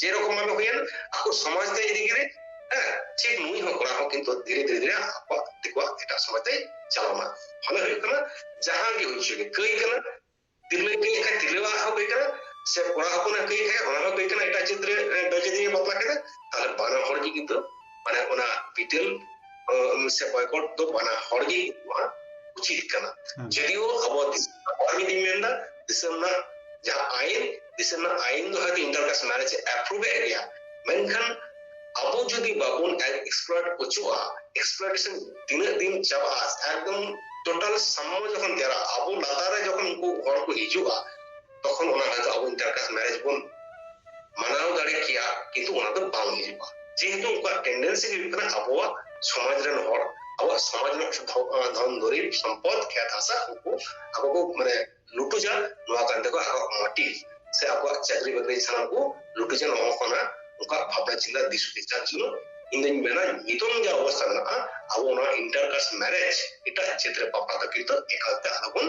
ᱡᱮᱨᱚᱠᱚᱢ ᱵᱷᱟᱵᱮ ᱦᱩᱭᱮᱱ ᱟᱠᱚ ᱥᱚᱢᱟᱡᱽ ᱛᱮ ᱤᱫᱤ ᱠᱮᱫᱮ ᱦᱮᱸ ᱴᱷᱤᱠ ᱱᱩᱭ ᱦᱚᱸ ᱠᱚᱲᱟ ᱦᱚᱸ ᱠᱤᱱᱛᱩ ᱫᱷᱤᱨᱮ ᱫᱷᱤᱨᱮ ᱫᱷᱤᱨᱮ ᱟᱠᱚᱣᱟᱜ ᱫᱤᱠᱩᱣᱟᱜ ᱮᱴᱟᱜ ᱥᱚᱢᱟᱡᱽ ᱛᱮ ᱪᱟᱞᱟᱣᱱᱟ ᱢᱟᱱᱮ ᱦᱩᱭᱩᱜ ᱠᱟᱱᱟ ᱡᱟᱦᱟᱸ ᱜᱮ ᱦᱩᱭ ᱦᱚᱪᱚᱭ ᱠᱟᱹᱭ ᱠᱟᱱᱟ ᱛᱤᱨᱞᱟᱹ ᱠᱟᱹᱭ ᱠᱷᱟᱱ ᱛᱤᱨᱞᱟᱹᱣᱟᱜ ᱦᱚᱸ ᱠᱟᱹᱭ ᱠᱟᱱᱟ ᱥᱮ ᱠᱚᱲᱟ ᱦᱚᱯᱚᱱᱟᱜ ᱠᱟᱹᱭ ᱠᱷᱟᱱ ᱚᱱᱟ ᱦᱚᱸ ᱠᱟᱹᱭ ᱠᱟᱱᱟ ᱮᱴᱟᱜ ᱪᱤᱛᱨᱮ ᱵᱮᱡᱮᱫᱤᱭᱮ ᱵᱟᱯᱞᱟ ᱠᱮᱫᱟ ᱛᱟᱦᱚᱞᱮ ᱵᱟᱱᱟ ᱦᱚᱲ ᱜᱮ ᱠᱤᱱᱛᱩ ᱢᱟᱱᱮ ᱚᱱᱟ ᱵᱤᱴᱮᱞ ᱥᱮ ᱵᱚᱭᱠᱚᱴ ᱫᱚ ᱵᱟᱱᱟ ᱦᱚᱲ ᱜᱮ ᱩᱪᱤᱛ ᱠᱟᱱᱟ ᱡᱚᱫᱤᱭᱳ ᱟᱵᱚ ᱟᱵᱚᱣᱟᱜ ᱢᱤᱫ ᱫᱤᱱ ᱢᱮᱱᱫᱟ ᱫᱤᱥᱚᱢ ᱨᱮᱱᱟᱜ ᱡᱟᱦᱟᱸ ᱟᱭᱤᱱ ᱫᱤᱥᱚᱢ ᱨᱮᱱᱟᱜ ᱟᱭᱤᱱ ᱫᱚ ᱦᱚᱭᱛᱳ ᱤᱱᱴᱟᱨᱠᱟᱥᱴ ᱢᱮᱨᱮᱡᱽ ᱮ ᱮᱯᱨᱩᱵᱷ ᱮᱫ ᱜᱮᱭᱟ ᱢᱮᱱᱠᱷᱟᱱ ᱟᱵᱚ ᱡᱩᱫᱤ ᱵᱟᱵᱚᱱ ᱮᱠᱥᱯᱞᱚᱨ ᱚᱪᱚᱜᱼᱟ ᱮᱠᱥᱯᱞᱚᱨᱮᱥᱚᱱ ᱛᱤᱱᱟᱹᱜ ᱫᱤᱱ ᱪᱟᱵᱟᱜᱼᱟ ᱮᱠᱫᱚᱢ ᱴᱳᱴᱟᱞ ᱥᱟᱢᱢᱚ ᱡᱚᱠᱷᱚᱱ ᱛᱮᱭᱟᱨᱟ ᱟᱵᱚ ᱞᱟᱛᱟᱨ ᱨᱮ ᱡᱚᱠᱷᱚᱱ ᱩᱱᱠᱩ ᱦᱚᱲ ᱠᱚ ᱦᱤᱡᱩᱜᱼᱟ ᱛᱚᱠᱷᱚᱱ ᱚᱱᱟ ᱦᱚᱭᱛᱚ ᱟᱵᱚ ᱤᱱᱴᱟᱨᱠᱟᱥᱴ ᱢᱮᱨᱮᱡᱽ ᱵᱚᱱ ᱢᱟᱱᱟᱣ ᱫᱟᱲᱮ ᱠᱮᱭᱟ ᱠᱤᱱᱛᱩ ᱚᱱᱟ ᱫᱚ ᱵᱟᱝ ᱦᱤᱡᱩᱜᱼᱟ ᱡᱮᱦᱮᱛᱩ ᱩᱱᱠᱩᱣᱟᱜ ᱴᱮᱱᱰᱮᱱᱥᱤ ᱦᱩᱭᱩᱜ ᱠᱟᱱᱟ ᱟᱵᱚᱣᱟᱜ ᱥᱚᱢᱟᱡᱽ ᱨᱮᱱ ᱦᱚᱲ ᱟᱵᱚᱣᱟᱜ ᱥᱚᱢᱟᱡᱽ ᱨᱮᱱᱟᱜ ᱫᱷᱚᱱ ᱫᱩᱨᱤᱵ ᱥᱚᱢᱯᱚᱫ ᱠᱷᱮᱛ ᱦᱟᱥᱟ ᱩᱱᱠᱩ ᱟᱠᱚ ᱠᱚ ᱢᱟᱱᱮ ᱞᱩᱴᱩᱡᱟ ᱱᱚᱣᱟ ᱠᱟᱱ ᱛᱟᱠᱚ ᱟᱠᱚᱣᱟᱜ ᱢᱚᱴᱤᱵᱽ ᱥᱮ ᱟᱠᱚᱣᱟᱜ ᱪᱟᱹᱠᱨᱤ ᱵᱟᱹᱠᱨᱤ ᱥᱟᱱᱟᱢ ᱠᱚ ᱞᱩᱴᱩᱡᱟ ᱱᱚᱣᱟ ᱠᱟᱱᱟ ᱩᱱᱠᱩᱣᱟᱜ ᱵᱷᱟᱵᱽᱱᱟ ᱪᱤᱱᱛᱟ ᱫᱤᱥ ᱦᱩᱫᱤᱥ ᱡᱟᱨ ᱡᱚᱱᱱᱚ ᱤᱧ ᱫᱚᱧ ᱢᱮᱱᱟ ᱱᱤᱛᱚᱝ ᱡᱟ ᱚᱵᱚᱥᱛᱟ ᱢᱮᱱᱟᱜᱼᱟ ᱟᱵᱚ ᱚᱱᱟ ᱤᱱᱴᱟᱨᱠᱟᱥᱴ ᱢᱮᱨᱮᱡᱽ ᱮᱴᱟᱜ ᱪᱷᱮᱛᱨᱮ ᱵᱟᱯᱞᱟ ᱫᱚ ᱠᱤᱱᱛᱩ ᱮᱠᱟᱞᱛᱮ ᱟᱞᱚᱵᱚᱱ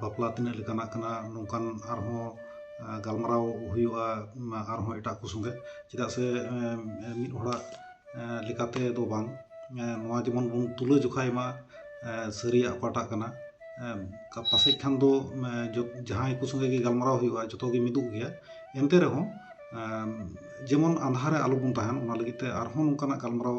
ᱵᱟᱯᱞᱟ ᱛᱤᱱᱟᱹᱜ ᱞᱮᱠᱟᱱᱟᱜ ᱠᱟᱱᱟ ᱱᱚᱝᱠᱟᱱ ᱟᱨᱦᱚᱸ ᱜᱟᱞᱢᱟᱨᱟᱣ ᱦᱩᱭᱩᱜᱼᱟ ᱟᱨᱦᱚᱸ ᱮᱴᱟᱜ ᱠᱚ ᱥᱚᱸᱜᱮ ᱪᱮᱫᱟᱜ ᱥᱮ ᱢᱤᱫ ᱦᱚᱲᱟᱜ ᱞᱮᱠᱟᱛᱮ ᱫᱚ ᱵᱟᱝ ᱱᱚᱣᱟ ᱡᱮᱢᱚᱱ ᱵᱚᱱ ᱛᱩᱞᱟᱹ ᱡᱚᱠᱷᱟᱭ ᱢᱟ ᱥᱟᱹᱨᱤᱭᱟᱜ ᱚᱠᱟᱴᱟᱜ ᱠᱟᱱᱟ ᱯᱟᱥᱮᱡ ᱠᱷᱟᱱ ᱫᱚ ᱡᱟᱦᱟᱸᱭ ᱠᱚ ᱥᱚᱸᱜᱮ ᱜᱮ ᱜᱟᱞᱢᱟᱨᱟᱣ ᱦᱩᱭᱩᱜᱼᱟ ᱡᱚᱛᱚ ᱜᱮ ᱢᱤᱫᱚᱜ ᱜᱮᱭᱟ ᱮᱱᱛᱮ ᱨᱮᱦᱚᱸ ᱡᱮᱢᱚᱱ ᱟᱸᱫᱷᱟ ᱨᱮ ᱟᱞᱚ ᱵᱚᱱ ᱛᱟᱦᱮᱱ ᱚᱱᱟ ᱞᱟᱹᱜᱤᱫ ᱛᱮ ᱟᱨᱦᱚᱸ ᱱᱚᱝᱠᱟᱱᱟᱜ ᱜᱟᱞᱢᱟᱨᱟᱣ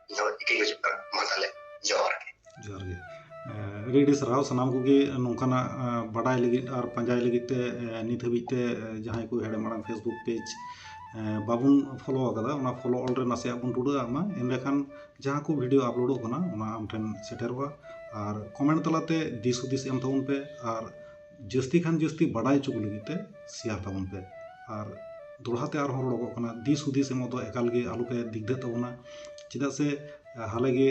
ᱫᱚ ᱤᱠᱤ ᱜᱩᱡᱩᱜ ᱠᱟᱱᱟ ᱢᱟ ᱛᱟᱦᱞᱮ ᱡᱚᱦᱟᱨ ᱜᱮ ᱡᱚᱦᱟᱨ ᱜᱮ ᱟᱹᱰᱤ ᱟᱹᱰᱤ ᱥᱟᱨᱦᱟᱣ ᱥᱟᱱᱟᱢ ᱠᱚᱜᱮ ᱱᱚᱝᱠᱟᱱᱟᱜ ᱵᱟᱰᱟᱭ ᱞᱟᱹᱜᱤᱫ ᱟᱨ ᱯᱟᱸᱡᱟᱭ ᱞᱟᱹᱜᱤᱫ ᱛᱮ ᱱᱤᱛ ᱦᱟᱹᱵᱤᱡ ᱛᱮ ᱡᱟᱦᱟᱸᱭ ᱠᱚ ᱦᱮᱲᱮᱢ ᱟᱲᱟᱝ ᱯᱷᱮᱥᱵᱩᱠ ᱯᱮᱡᱽ ᱵᱟᱵᱚᱱ ᱯᱷᱚᱞᱳ ᱟᱠᱟᱫᱟ ᱚᱱᱟ ᱯᱷᱚᱞᱳ ᱚᱞ ᱨᱮ ᱱᱟᱥᱮᱭᱟᱜ ᱵᱚᱱ ᱴᱩᱰᱟᱹᱜ ᱟᱜ ᱢᱟ ᱮᱸᱰᱮᱠᱷᱟᱱ ᱡᱟᱦᱟᱸ ᱠᱚ ᱵᱷᱤᱰᱤᱭᱳ ᱟᱯᱞᱳᱰᱚᱜ ᱠᱟᱱᱟ ᱚᱱᱟ ᱟᱢ ᱴᱷᱮᱱ ᱥᱮᱴᱮᱨᱚᱜᱼᱟ ᱟᱨ ᱠᱚᱢᱮᱱᱴ ᱛᱟᱞᱟᱛᱮ ᱫᱤᱥ ᱦᱩᱫᱤᱥ ᱮᱢ ᱛᱟᱵᱚᱱ ᱯᱮ ᱟᱨ ᱡᱟᱹᱥᱛᱤ ᱠᱷᱟᱱ ᱡᱟᱹᱥᱛᱤ ᱵᱟᱰᱟᱭ ᱦᱚᱪᱚ ᱠᱚ ᱞᱟᱹᱜᱤᱫ ᱛᱮ ᱥᱮᱭᱟᱨ ᱛᱟᱵᱚᱱ ᱯᱮ ᱟᱨ ᱫᱚᱦᱲᱟ ᱛᱮ ᱟᱨᱦᱚᱸ ᱨᱚᱲᱚᱜᱚᱜ ᱠᱟᱱᱟ ᱫᱤᱥ ᱦᱩᱫᱤᱥ ᱮᱢᱚᱜ ᱫᱚ ᱮᱠᱟᱞ ᱜᱮ ᱟᱞᱚ ᱯᱮ ᱫᱤᱜᱫᱷᱟᱹᱜ ᱛᱟᱵᱚᱱᱟ ᱪᱮᱫᱟᱜ ᱥᱮ ᱦᱟᱞᱮ ᱜᱮ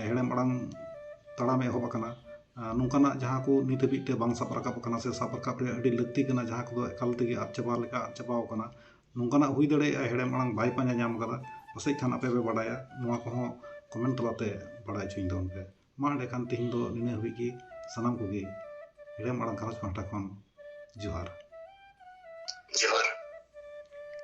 ᱦᱮᱲᱮᱢ ᱟᱲᱟᱝ ᱛᱟᱲᱟᱢ ᱮᱦᱚᱵ ᱟᱠᱟᱱᱟ ᱱᱚᱝᱠᱟᱱᱟᱜ ᱡᱟᱦᱟᱸ ᱠᱚ ᱱᱤᱛ ᱦᱟᱹᱵᱤᱡ ᱛᱮ ᱵᱟᱝ ᱥᱟᱵ ᱨᱟᱠᱟᱵ ᱟᱠᱟᱱᱟ ᱥᱮ ᱥᱟᱵ ᱨᱟᱠᱟᱵ ᱨᱮᱭᱟᱜ ᱟᱹᱰᱤ ᱞᱟᱹᱠᱛᱤ ᱠᱟᱱᱟ ᱡᱟᱦᱟᱸ ᱠᱚᱫᱚ ᱮᱠᱟᱞ ᱛᱮᱜᱮ ᱟᱫ ᱪᱟᱵᱟ ᱞᱮᱠᱟ ᱟᱫ ᱪᱟᱵᱟ ᱟᱠᱟᱱᱟ ᱱᱚᱝᱠᱟᱱᱟᱜ ᱦᱩᱭ ᱫᱟᱲᱮᱭᱟᱜᱼᱟ ᱦᱮᱲᱮᱢ ᱟᱲᱟᱝ ᱵᱟᱭ ᱯᱟᱸᱡᱟ ᱧᱟᱢ ᱟᱠᱟᱫᱟ ᱯᱟᱥᱮᱡ ᱠᱷᱟᱱ ᱟᱯᱮ ᱯᱮ ᱵᱟᱰᱟᱭᱟ ᱱᱚᱣᱟ ᱠᱚᱦᱚᱸ ᱠᱚᱢᱮᱱᱴ ᱛᱟᱞᱟᱛᱮ ᱵᱟᱰᱟᱭ ᱦᱚᱪᱚᱧ ᱛᱟᱵᱚᱱ ᱯᱮ ᱢᱟ ᱮᱸᱰᱮ ᱠᱷᱟᱱ ᱛᱮᱦᱮᱧ ᱫᱚ ᱱᱤᱱᱟᱹᱜ ᱦᱟᱹᱵᱤᱡ ᱜᱮ ᱥᱟᱱᱟᱢ ᱠᱚᱜᱮ ᱦᱮᱲᱮᱢ ᱟᱲᱟᱝ ᱜᱷᱟᱨᱚᱸᱡᱽ ᱯᱟᱦᱴᱟ ᱠᱷᱚᱱ ᱡᱚᱦᱟᱨ ᱡᱚᱦᱟᱨ